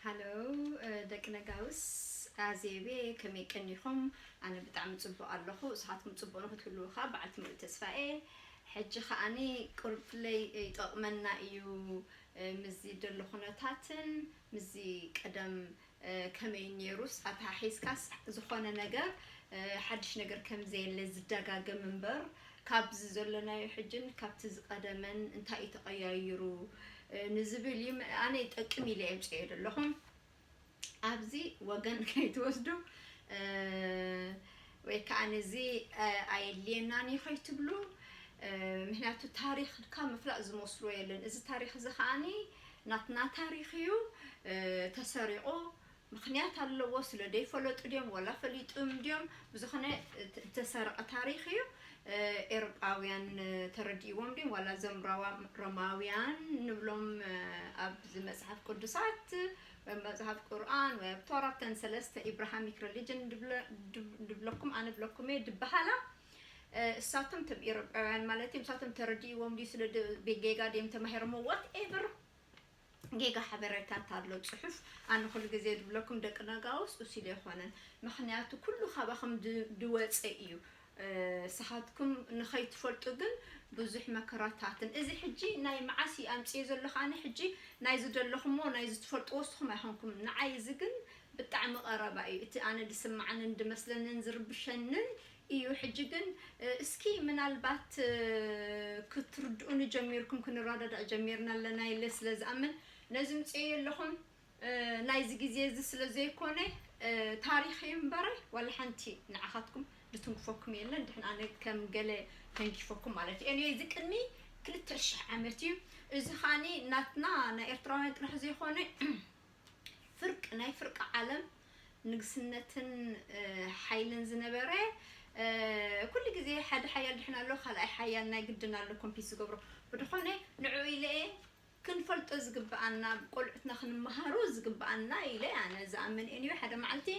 ሃሎ ደቂ ነጋውስ ኣዜቤ ከመይ ቀኒኹም ኣነ ብጣዕሚ ጽቡቕ ኣለኹ ንስኻትኩም ጽቡቕ ንኽትህልዉ ከኣ በዓልቲ ሙሉእ ተስፋ እየ ሕጂ ከኣኒ ቁሩብ ፍለይ ይጠቕመና እዩ ምስዚ ደሎ ኩነታትን ምስዚ ቀደም ከመይ ኔሩስ ኣተሓሒዝካስ ዝኾነ ነገር ሓድሽ ነገር ከምዘየለ ዝደጋገም እምበር ካብዚ ዘሎናዮ ሕጅን ካብቲ ዝቀደመን እንታይ እዩ ተቀያይሩ ንዝብል እዩ ኣነ ይጠቅም ኢለ የምጽኤ ዘለኹ ኣብዚ ወገን ከይትወስዱ ወይ ከኣ ነዚ ኣየድልየናን እዩ ከይትብሉ ምክንያቱ ታሪክካ ምፍላጥ ዝመስሎ የለን እዚ ታሪክ እዚ ከኣ ናትና ታሪክ እዩ ተሰሪቁ ምክንያት ኣለዎ ስለ ደይፈለጡ ድዮም ወላ ፈሊጡም ድዮም ብዝኮነ ዝተሰረቀ ታሪክ እዩ ኤሮጳውያን ተረዲእዎም ድዮም ዋላ እዞም ሮማውያን ንብሎም ኣብዚ መጽሓፍ ቅዱሳት እብ መጽሃፍ ቁርኣን ወይ እብ ቶራ እተን ሰለስተ ኢብራሃሚክ ረሊጅን ድብለኩም ኣነ እብለኩም እየ ድበሃላ እሳቶም እቶም ኢሮጳውያን ማለት እዮም እሳቶም ተረዲእዎም ድዩ ስለ ጌጋ ድዮም ተማሂሮሞ ዋት ኤቨር ጌጋ ሓበሬታ እንታሎ ፅሑፍ ኣነ ኩሉ ግዜ ድብለኩም ደቂ ነጋውስ እሲሉ ኣይኮነን ምክንያቱ ኩሉ ካባኹም ድወፀ እዩ ንስኻትኩም ንኸይትፈልጡ ግን ብዙሕ መከራታትን እዚ ሕጂ ናይ መዓስ እዩ ኣምጺኤ ዘለኹ ኣነ ሕጂ ናይ ዝደለኹሞ ናይ ዝትፈልጥዎ ንስኹም ኣይኮንኩምን ንዓይ እዚ ግን ብጣዕሚ ቀረባ እዩ እቲ ኣነ ዝስምዓንን ዝመስለንን ዝርብሸንን እዩ ሕጂ ግን እስኪ ምናልባት ክትርድኡኒ ጀሚርኩም ክንረዳዳእ ጀሚርና ኣለና ኢለ ስለ ዝኣምን ነዚ ምጽኤዮ ኣለኹ ናይዚ ግዜ እዚ ስለ ዘይኮነ ታሪኽ እዩ እምበረ ዋላ ሓንቲ ንዓኻትኩም ዝትንክፈኩም የለን ድሕን ኣነ ከም ገለ ተንኪፈኩም ማለት እዩ ኤኒወይ እዚ ቅድሚ ክልተ ሽሕ ዓመት እዩ እዚ ኻኒ ናትና ናይ ኤርትራውያን ጥራሕ ዘይኮነ ፍርቂ ናይ ፍርቂ ዓለም ንግስነትን ሓይልን ዝነበረ ኩሉ ግዜ ሓደ ሓያል ድሕን ኣሎ ካልኣይ ሓያል ናይ ግድን ኣሎ ኮምፒት ዝገብሮ ብድኾነ ንዕኡ ኢለ እየ ክንፈልጦ ዝግብኣና ቆልዑትና ክንመሃሩ ዝግብኣና ኢለ ኣነ ዝኣምን እየ ንዩ ሓደ መዓልቲ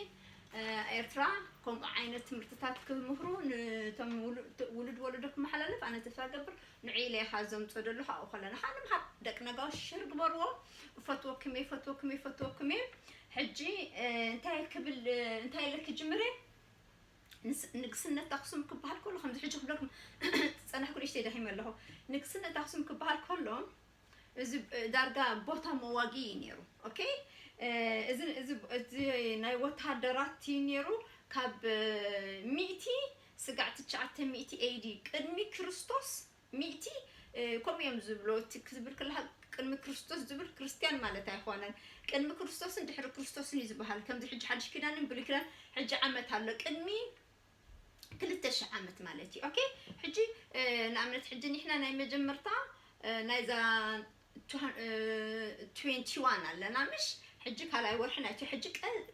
ኤርትራ ከምኡ ዓይነት ትምህርትታት ክምህሩ ንቶም ውሉድ ወለዶ ክመሓላለፍ ኣነ ተስፋ ገብር ንዑ ኢለ ኢኻ ዘምጾ ደለኹ ኣብኡ ከለና ኸኣ ንምሃር ደቂ ነጋሽ ሸር ግበርዎ እፈትወኩም እየ እፈትወኩም እየ እፈትወኩም እየ ሕጂ እንታይ ክብል እንታይ ኢለ ክጅምር እየ ንግስነት ኣክሱም ክበሃል ከሎ ከምዚ ሕጂ ክብለኩም ዝጸናሕኩ ንእሽተይ ደኺመ ኣለኹ ንግስነት ኣክሱም ክበሃል ከሎ እዚ ዳርጋ ቦታ መዋጊ እዩ ነይሩ ኦኬ እዚ እዚ ናይ ወተሃደራት እዩ ነይሩ ካብ ሚእቲ ስጋዕ ትሽዓተ ሚእቲ ኤዲ ቅድሚ ክርስቶስ ሚእቲ ከምኡ እዮም ዝብሉ እቲ ክብል ከለካ ቅድሚ ክርስቶስ ዝብል ክርስትያን ማለት ኣይኮነን ቅድሚ ክርስቶስን ድሕሪ ክርስቶስን እዩ ዝባሃል ከምዚ ሕጂ ሓድሽ ኪዳንን ብሉይ ኪዳን ሕጂ ዓመት ኣሎ ቅድሚ ክልተ ሽሕ ዓመት ማለት እዩ ኦኬ ሕጂ ንኣብነት ሕጂ ኒሕና ናይ መጀመርታ ናይዛ ትዌንቲ ዋን ኣለና ምሽ ሕጂ ካልኣይ ወርሒ ናይቲ ሕጂ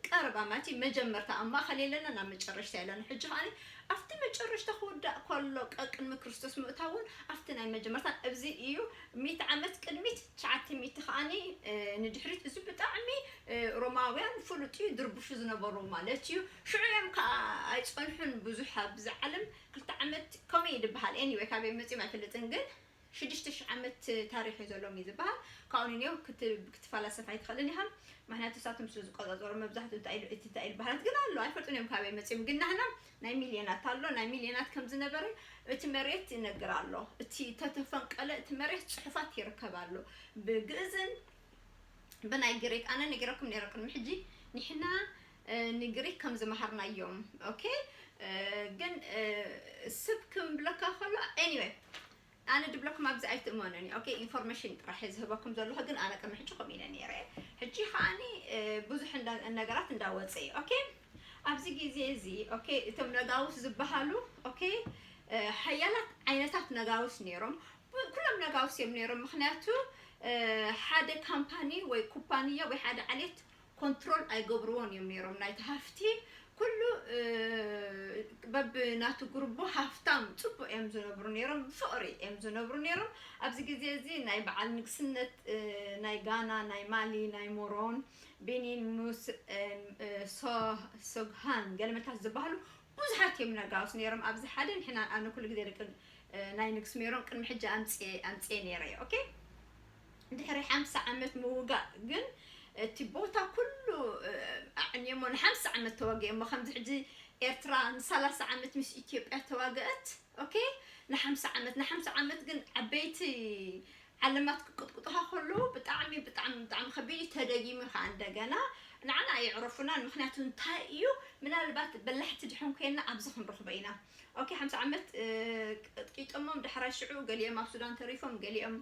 ቀረብ ኣማቲ መጀመርታ ኣብ ማእኸል የለና ናብ መጨረሽታ የለና ሕጂ ከዓኒ ኣብቲ መጨረሽታ ክውዳእ ከሎ ቀቅድሚ ክርስቶስ ምእታውን ኣብቲ ናይ መጀመርታ እዚ እዩ ሚት ዓመት ቅድሚት ትሽዓተ ሚት ከዓኒ ንድሕሪት እዚ ብጣዕሚ ሮማውያን ፍሉጥ እዩ ድርብሹ ዝነበሩ ማለት እዩ ሽዑ እዮም ከዓ ኣይፀንሑን ብዙሕ ኣብዚ ዓለም ክልተ ዓመት ከመይ ድበሃል ኤኒወይ ካበይ መፂኦም ኣይፈልጥን ግን ሽዱሽተ ሽሕ ዓመት ታሪኽ እዩ ዘሎዎም እዩ ዝባሃል ካብኡ ንንዮ ክትፋላሰፍ ኣይትኸእልን ኢኻ ማክንያቱ እሳቶም ስለ ዝቆጻጸሩ መብዛሕትኡ እንታይ ኢሉ እቲ እንታይ ኢሉ ባህላት ግን ኣሎ ኣይፈልጡን እዮም ካበይ መጺኦም ግን ናህና ናይ ሚልዮናት ኣሎ ናይ ሚልዮናት ከም ዝነበረ እቲ መሬት ይነግር ኣሎ እቲ ተተፈንቀለ እቲ መሬት ጽሑፋት ይርከብ ኣሎ ብግእዝን ብናይ ግሪክ ኣነ ነጊረኩም ነይረ ቅድሚ ሕጂ ኒሕና ንግሪክ ከም ዝመሃርናዮም ኦኬ ግን ስብ ክምብለካ ከሎ ኤኒወይ ኣነ ድብለኩም ኣብዚ ኣይትእመኑኒ ኦኬ ኢንፎርሜሽን ጥራሕ እየ ዝህበኩም ዘለኹ ግን ኣነ ቅድሚ ሕጂ ከምኡ ኢለ ነይረ ሕጂ ከዓኒ ብዙሕ ነገራት እንዳወፀ እዩ ኦኬ ኣብዚ ግዜ እዚ ኦኬ እቶም ነጋውስ ዝበሃሉ ኦኬ ሓያላት ዓይነታት ነጋውስ ነይሮም ኩሎም ነጋውስ እዮም ነይሮም ምክንያቱ ሓደ ካምፓኒ ወይ ኩባንያ ወይ ሓደ ዓሌት ኮንትሮል ኣይገብርዎን እዮም ነይሮም ናይቲ ሃፍቲ ኩሉ በብናቱ ጉርቦ ሃፍታም ፅቡቅ እዮም ዝነብሩ ነይሮም ብፍቅሪ እዮም ዝነብሩ ነይሮም ኣብዚ ግዜ እዚ ናይ በዓል ንግስነት ናይ ጋና ናይ ማሊ ናይ ሞሮን ቤኒን ሙስ ሶግሃን ገለመታት ዝበሃሉ ብዙሓት እዮም ነጋውስ ነይሮም ኣብዚ ሓደ ንሕና ኣነ ኩሉ ግዜ ደቂ ናይ ንግስ ሜሮን ቅድሚ ሕጂ ኣምፅኤ ኣምፅኤ ነይረ ኦኬ ድሕሪ ሓምሳ ዓመት ምውጋእ ግን እቲ ቦታ ኩሉ ኣዕንየሞ ንሓምሳ ዓመት ተዋጊኦሞ ከምዚ ሕጂ ኤርትራ ንሳላሳ ዓመት ምስ ኢትዮጵያ ተዋገእት ኦኬ ንሓምሳ ዓመት ንሓምሳ ዓመት ግን ዓበይቲ ዓለማት ክቅጥቅጡኻ ከለዉ ብጣዕሚ ብጣዕሚ ብጣዕሚ ከቢድ እዩ ተደጊሙ ከዓ እንደገና ንዓና ኣየዕረፉናን ምክንያቱ እንታይ እዩ ምናልባት በላሕቲ ድሕን ኮይና ኣብዚ ክንረኽቦ ኢና ኦኬ ሓምሳ ዓመት ቀጥቂጦሞም ዳሕራይ ሽዑ ገሊኦም ኣብ ሱዳን ተሪፎም ገሊኦም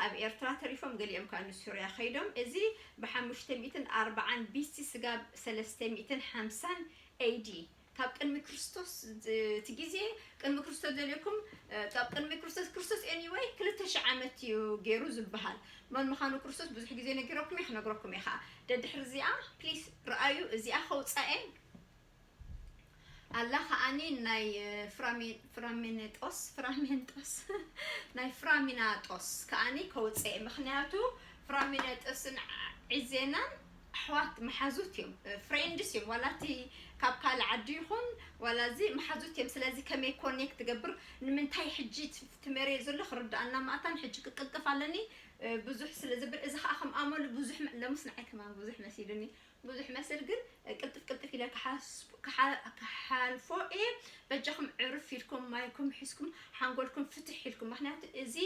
ኣብ ኤርትራ ተሪፎም ገሊኦም ከኣ ንሱርያ ከይዶም እዚ ብሓሙሽተ ሚእትን ኣርብዓን ቢሲ ስጋብ ሰለስተ ሚእትን ሓምሳን AD ካብ ቅድሚ ክርስቶስ እቲ ግዜ ቅድሚ ክርስቶስ ደልየኩም ካብ ቅድሚ ክርስቶስ ክርስቶስ ኤኒወይ ክልተ ሽሕ ዓመት እዩ ገይሩ ዝብሃል መን ምዃኑ ክርስቶስ ብዙሕ ግዜ ነጊረኩም እየ ክነግረኩም እየ ከኣ ደድሕሪ እዚኣ ፕሊስ ርኣዩ እዚኣ ከውጻኤ ኣላ ከኣኒ ናይ ፍራሚንጦስ ፍራሚንጦስ ናይ ፍራሚናጦስ ከኣኒ ከውጽእ እየ ምክንያቱ ፍራሚነጦስን ዒዜናን ኣሕዋት መሓዙት እዮም ፍሬንድስ እዮም ዋላ እቲ ካብ ካልእ ዓዲ ይኹን ዋላ እዚ መሓዙት እዮም ስለዚ ከመይ ኮኔክት ትገብር ንምንታይ ሕጂ ትመርዮ ዘሎ ክርድኣና ማእታን ሕጂ ክቅልጥፍ ኣለኒ ብዙሕ ስለ ዝብል እዚ ከዓ ከም ኣመሉ ብዙሕ ለሙስ ንዓይ ከማን ብዙሕ መሲሉኒ ብዙሕ መስል ግን ቅልጥፍ ቅልጥፍ ኢለ ክሓልፎ እየ በጃኹም ዕርፍ ኢልኩም ማይኩም ሒዝኩም ሓንጎልኩም ፍትሕ ኢልኩም ምኽንያቱ እዚ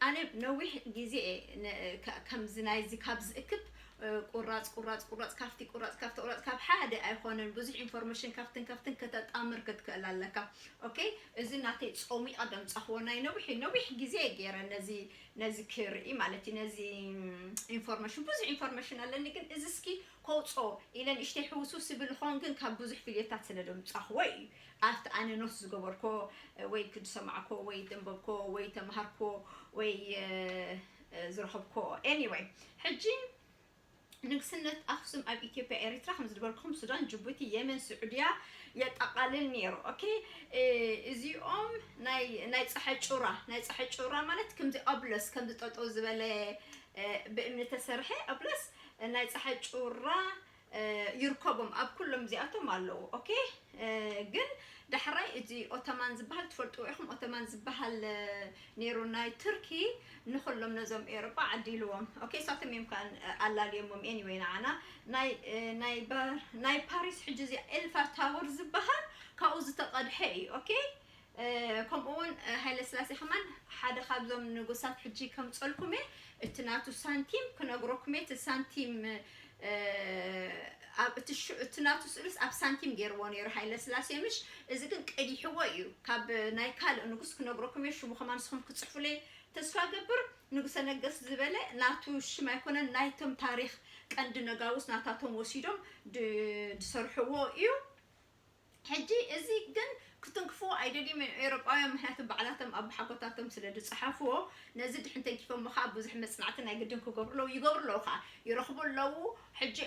ኣነ ነዊሕ ግዜ እየ ከምዚ ናይዚ ካብ ዝእክብ ቁራጽ ቁራጽ ቁራጽ ካብቲ ቁራጽ ካብቲ ቁራጽ ካብ ሓደ ኣይኾነን ብዙሕ ኢንፎርሜሽን ካብትን ካብትን ከተጣምር ክትክእል ኣለካ ኦኬ እዚ ናተይ ጾም ይቐደም ጻኽዎ ናይ ነዊሕ ነዊሕ ግዜ ገይረ ነዚ ነዚ ክርኢ ማለት እዩ ነዚ ኢንፎርመሽን ብዙሕ ኢንፎርመሽን ኣለኒ ግን እዚ እስኪ ከውጾ ኢለ ንእሽተይ ሕውስውስ ይብል ይኸውን ግን ካብ ብዙሕ ቪድዮታት ስለ ደምጻኽዎ እዩ ኣብቲ ኣነ ኖት ዝገበርኮ ወይ ዝሰማዕኮ ወይ ደንበብኮ ወይ ተምሃርኮ ወይ ዝረኸብኮ ኤኒወይ ሕጂ ንግስነት ኣክሱም ኣብ ኢትዮጵያ ኤሪትራ ከም ዝድበርኩም ሱዳን ጅቡቲ የመን ስዑድያ የጠቓልል ነይሩ ኦኬ እዚኦም ናይ ናይ ፀሐይ ጩራ ናይ ፀሐይ ጩራ ማለት ከምዚ ኦብለስ ከምዚ ጠጠው ዝበለ ብእምኒ ተሰርሐ ኦብለስ ናይ ፀሐይ ጩራ ይርከቦም ኣብ ኩሎም እዚኣቶም ኣለዉ ኦኬ ግን ዳሕራይ እዚ ኦቶማን ዝበሃል ትፈልጥዎ ኢኹም ኦቶማን ዝበሃል ነይሩ ናይ ቱርኪ ንኹሎም ነዞም ኤሮጳ ዓዲልዎም ኦኬ እሳቶም እዮም ከኣ ኣላልዮሞም ኤኒወይ ንዓና ናይ ናይ ናይ ፓሪስ ሕጂ እዚ ኤልፋር ታወር ዝበሃል ካብኡ ዝተቐድሐ እዩ ኦኬ ከምኡ እውን ሃይለስላሴ ከማን ሓደ ካብዞም ንጉሳት ሕጂ ከምፀልኩሜ እቲ ናቱ ሳንቲም ክነግረኩሜ እቲ ሳንቲም ኣብ እቲ ናቱ ስእልስ ኣብ ሳንቲም ጌርዎ ኔሩ ሃይለስላሴ ምሽ እዚ ግን ቀዲሕዎ እዩ ካብ ናይ ካልእ ንጉስ ክነግረኩም እየ ሽሙ ከማ ንስኹም ክጽሕፉለይ ተስፋ ገብር ንጉሰ ነገስ ዝበለ ናቱ ሽም ኣይኮነን ናይቶም ታሪኽ ቀንዲ ነጋውስ ናታቶም ወሲዶም ድሰርሕዎ እዩ ሕጂ እዚ ግን ክትንክፍዎ ኣይደልዩም እዮም ኤውሮጳውያን ምክንያቱ ባዕላቶም ኣቦሓጎታቶም ስለ ዝጸሓፍዎ ነዚ ድሕን ተንኪፎሞ ከኣ ብዙሕ መጽናዕቲ ናይ ግድን ክገብሩ ኣለዉ ይገብሩ ኣለዉ ከኣ ይረኽቡ ኣለዉ ሕጂ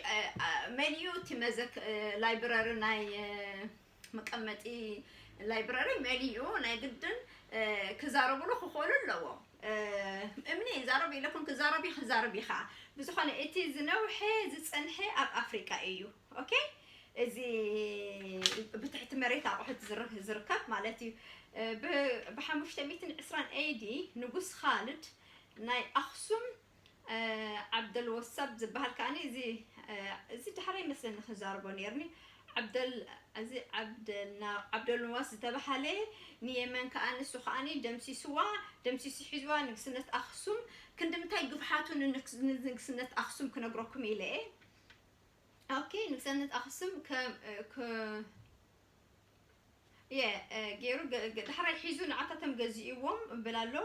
መን እዩ እቲ መዘክ ላይብረሪ ናይ መቀመጢ ላይብረሪ መን እዩ ናይ ግድን ክዛረብሉ ክኽእሉ ኣለዎም እምኒ ይዛረብ ኢለኩም ክዛረብ ክዛረብ እዩ ከኣ ብዝኾነ እቲ ዝነውሐ ዝጸንሐ ኣብ ኣፍሪቃ እዩ ኦኬ እዚ ብትሕቲ መሬት ኣቑሑት ዝር- ዝርከብ ማለት እዩ ብ- ብ520 AD ንጉስ ኻልድ ናይ ኣኽሱም እ፣ ዓብደል ወሳብ ዝብሃል ከኣኒ እዚ እ፣ እዚ ዳሕራይ ይመስለኒ ክዛረቦ ነይርኒ ዓብደል እዚ ዓብደል ና- ዓብደልንዋስ ዝተብሃለ ንየመን ከኣ ንሱ ከኣኒ ደምሲስዋ ደምሲሱ ሒዝዋ ንግስነት ኣኽሱም ክንዲ ምንታይ ግፍሓቱ ንንግስ- ንንግስነት ኣኽሱም ክነግረኩም ኢለ እየ ኦኬ ንግሰነት ኣክሱም ከም የ ገይሩ ዳሕራይ ሒዙ ንዓታቶም ገዚእዎም እብል ኣሎ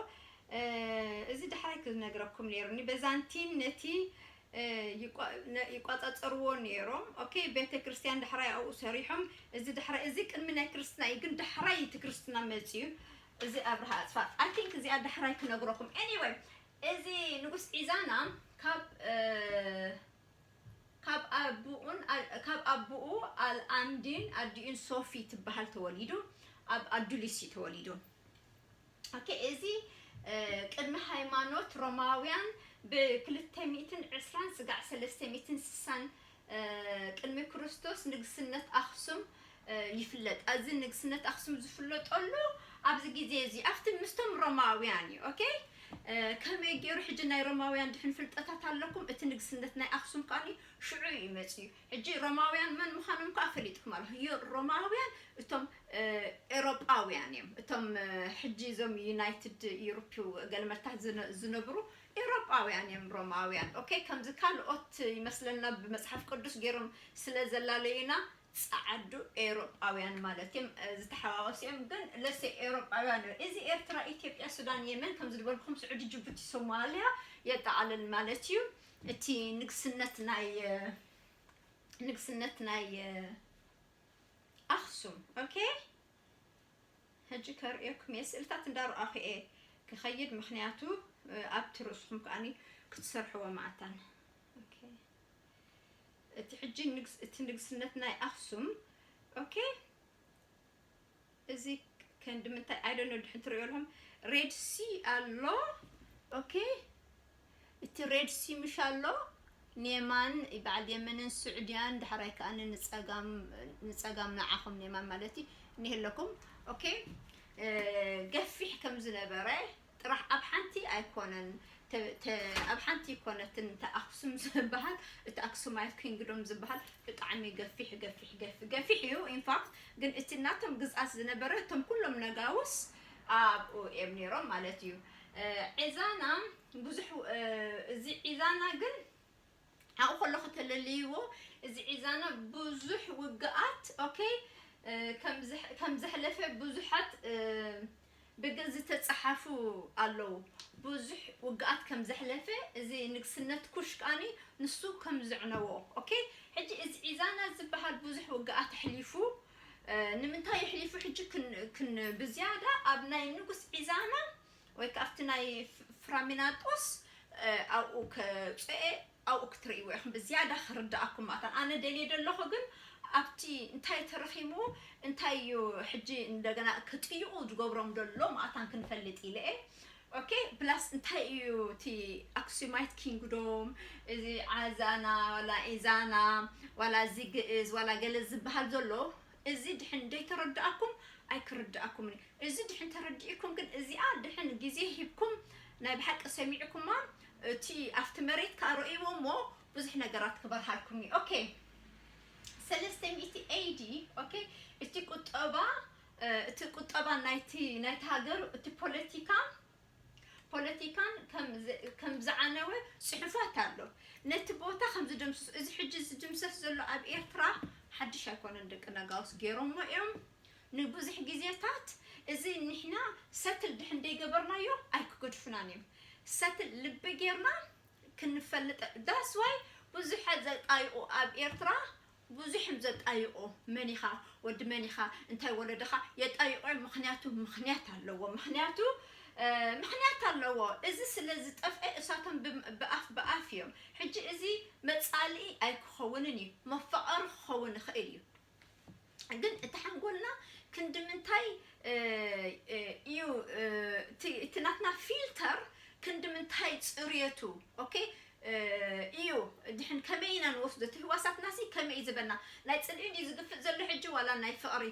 እዚ ዳሕራይ ክነግረኩም ነይሩኒ በዛንቲን ነቲ ይቋፃፀርዎ ነይሮም ኦኬ ቤተ ክርስቲያን ዳሕራይ ኣብኡ ሰሪሖም እዚ ዳሕራይ እዚ ቅድሚ ናይ ክርስትና እዩ ግን ዳሕራይ እቲ ክርስትና መፅዩ እዚ ኣብርሃ ኣፅፋ ኣይ ቲንክ እዚኣ ዳሕራይ ክነግረኩም ኤኒወይ እዚ ንጉስ ዒዛና ካብ ካብ ኣቡኡ ኣልኣምዲን ኣዲኡን ሶፊ ትበሃል ተወሊዱ ኣብ ኣዱሊስ እዩ ተወሊዱ ኦኬ እዚ ቅድሚ ሃይማኖት ሮማውያን ብክልተ ሚእትን ዕስራን ስጋዕ ሰለስተ ሚእትን ስሳን ቅድሚ ክርስቶስ ንግስነት ኣክሱም ይፍለጥ ኣዚ ንግስነት ኣክሱም ዝፍለጠሉ ኣብዚ ግዜ እዚ ኣብቲ ምስቶም ሮማውያን እዩ ok ከመይ ጌሩ ሕጂ ናይ ሮማውያን ድሕን ፍልጠታት ኣለኩም እቲ ንግስነት ናይ ኣክሱም ከኣ ሽዑ እዩ መጺኡ ሕጂ ሮማውያን መን ምዃኖም ከኣ ፈሊጥኩም ኣለኹም ዩ ሮማውያን እቶም ኤሮጳውያን እዮም እቶም ሕጂ እዞም ዩናይትድ ዩሮፕ ገልመታ ዝነብሩ ኤሮጳውያን እዮም ሮማውያን ok ከምዚ ካልኦት ይመስለና ብመጽሓፍ ቅዱስ ጌሮም ስለ ዘላለዩና ጸዓዱ ኤውሮጳውያን ማለት እዬም ዝተሓዋወሱ እዬም ግን ለሰ ኤውሮጳውያን እዮ እዚ ኤርትራ ኢትዮጵያ ሱዳን የመን ከምዚ ድበልኩም ስዑዲ ጁቡቲ ሶማልያ የጠቓልል ማለት እዩ እቲ ንግስነት ናይ ንግስነት ናይ ኣኽሱም ኦኬ ሕጂ ከርእየኩም እየ ስእልታት እንዳረኣኹ እየ ክኸይድ ምክንያቱ ኣብቲ ርእስኹም ከኣኒ ክትሰርሕዎ መዓታን ኦኬ እቲ ሕጂ ንግስ እቲ ንግስነት ናይ ኣክሱም ኦኬ እዚ ከንዲ ምንታይ ኣይ ዶንት ኖ ድሕን ትርእዮ ኣለኹም ሬድ ሲ ኣሎ ኦኬ እቲ ሬድ ሲ ምሽ ኣሎ ኔማን በዓል የመንን ስዑድያን ዳሕራይ ከዓ ንጸጋም ንጸጋም ንዓኹም ኔማን ማለት እዩ እኒህለኩም ኦኬ ገፊሕ ከም ዝነበረ ጥራሕ ኣብ ሓንቲ ኣይኮነን ተ ኣብ ሓንቲ ኣይኮነትን እታ ኣክሱም ዝበሃል እቲ ኣክሱማይት ኪንግዶም ዝበሃል ብጣዕሚ ገፊሕ ገፊሕ ገፊ ገፊሕ እዩ ኢንፋክት ግን እቲ ናቶም ግዝኣት ዝነበረ እቶም ኩሎም ነጋውስ ኣብኡ እዮም ነይሮም ማለት እዩ ዒዛና ብዙሕ እዚ ዒዛና ግን ኣብኡ ከሎ ከተለልይዎ እዚ ዒዛና ብዙሕ ውግኣት ኦኬ ከም ዘሕለፈ ብዙሓት ብግልፂ ዝተፀሓፉ ኣለው ብዙሕ ውግኣት ከም ዘሕለፈ እዚ ንግስነት ኩሽ ከዓኒ ንሱ ከም ዘዕነዎ ኦኬ ሕጂ እዚ ዒዛና ዝበሃል ብዙሕ ውግኣት ኣሕሊፉ ንምንታይ ኣሕሊፉ ሕጂ ብዝያዳ ኣብ ናይ ንጉስ ዒዛና ወይ ከኣ ኣብቲ ናይ ፍራሚናጦስ ኣብኡ ከብጽኤ ኣብኡ ክትርእይዎ ኢኹም ብዝያዳ ክርድኣኩም ማለት ኣን ኣነ ደልየ ደለኹ ግን ኣብቲ እንታይ ተረኺሙ እንታይ እዩ ሕጂ እንደገና ክጥይቑ ዝገብሮም ደሎ ማለት ኣን ክንፈልጥ ኢለ እየ ኦኬ ፕላስ እንታይ እዩ እቲ ኣክሱማይት ኪንግዶም እዚ ዓዛና ዋላ ኢዛና ዋላ እዚ ግእዝ ዋላ ገለ ዝበሃል ዘሎ እዚ ድሕን ደይተረዳኣኩም ኣይክርዳኣኩምን እዩ እዚ ድሕን ተረዲኢኩም ግን እዚኣ ድሕን ግዜ ሂብኩም ናይ ብሓቂ ሰሚዕኩማ እቲ ኣብቲ መሬት ከኣ ረእይዎ እሞ ብዙሕ ነገራት ክበርሃልኩም እዩ ኦኬ ሰለስተ ሚእቲ ኤዲ ኦኬ እቲ ቁጠባ እቲ ቁጠባ ናይቲ ናይቲ ሃገር እቲ ፖለቲካ ፖለቲካን ከም ዝዓነወ ጽሑፋት ኣሎ። ነቲ ቦታ ከም ዝድምስሱ እዚ ሕጂ ዝድምሰስ ዘሎ ኣብ ኤርትራ ሓድሽ ኣይኮነን ደቂ ነጋውስ ጌሮሞ እዮም ንብዙሕ ግዜታት እዚ ንሕና ሰትል ድሕን ደይገበርናዮ ኣይክገድፉናን እዮም ሰትል ልቢ ጌርና ክንፈልጥ ዳስ ዋይ ብዙሐት ዘጣይቁ ኣብ ኤርትራ ብዙሕም ዘጣይቆ መን ኢኻ ወዲ መን ኢኻ እንታይ ወለድኻ የጣይቆ እዮም ምኽንያቱ ምኽንያት ኣለዎ ምኽንያቱ ምኽንያት ኣለዎ እዚ ስለ ዝጠፍኤ እሳቶም ብኣፍ ብኣፍ እዮም ሕጂ እዚ መጻልኢ ኣይክኸውንን እዩ መፋቐሪ ክኸውን ይኽእል እዩ ግን እቲ ሓንጎልና ክንዲ ምንታይ እዩ እቲ ናትና ፊልተር ክንዲ ምንታይ ጽርየቱ ኦኬ ኢዩ ድሕን ከመይ ኢና ንወስዶ እቲ ህዋሳትናሲ ከመይ ኢዩ ዝበና ናይ ጽልኢ ድዩ ዝግፍጥ ዘሎ ሕጂ ዋላ ናይ ፍቅሪ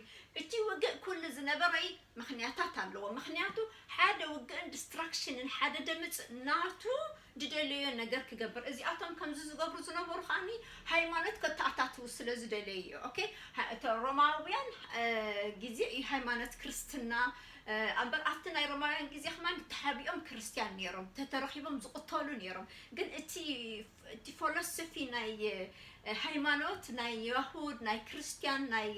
እቲ ውግእ ኩሉ ዝነበረይ ምክንያታት ኣለዎ ምክንያቱ ሓደ ውግእን ድስትራክሽንን ሓደ ደምጽእ ናቱ ድደለዮ ነገር ክገብር እዚኣቶም ከምዚ ዝገብሩ ዝነበሩ ከኣኒ ሃይማኖት ከተኣታትው ስለ ዝደለዩ ኢዩ ኦኬ እቶ ሮማውያን ግዜ ኢዩ ሃይማኖት ክርስትና ኣምበር ኣብቲ ናይ ሮማውያን ግዜ ከማን ተሓቢኦም ክርስትያን ኔሮም ተተረኺቦም ዝቕተሉ ኔሮም ግን እቲ እቲ ፎሎሶፊ ናይ ሃይማኖት ናይ ያሁድ ናይ ክርስትያን ናይ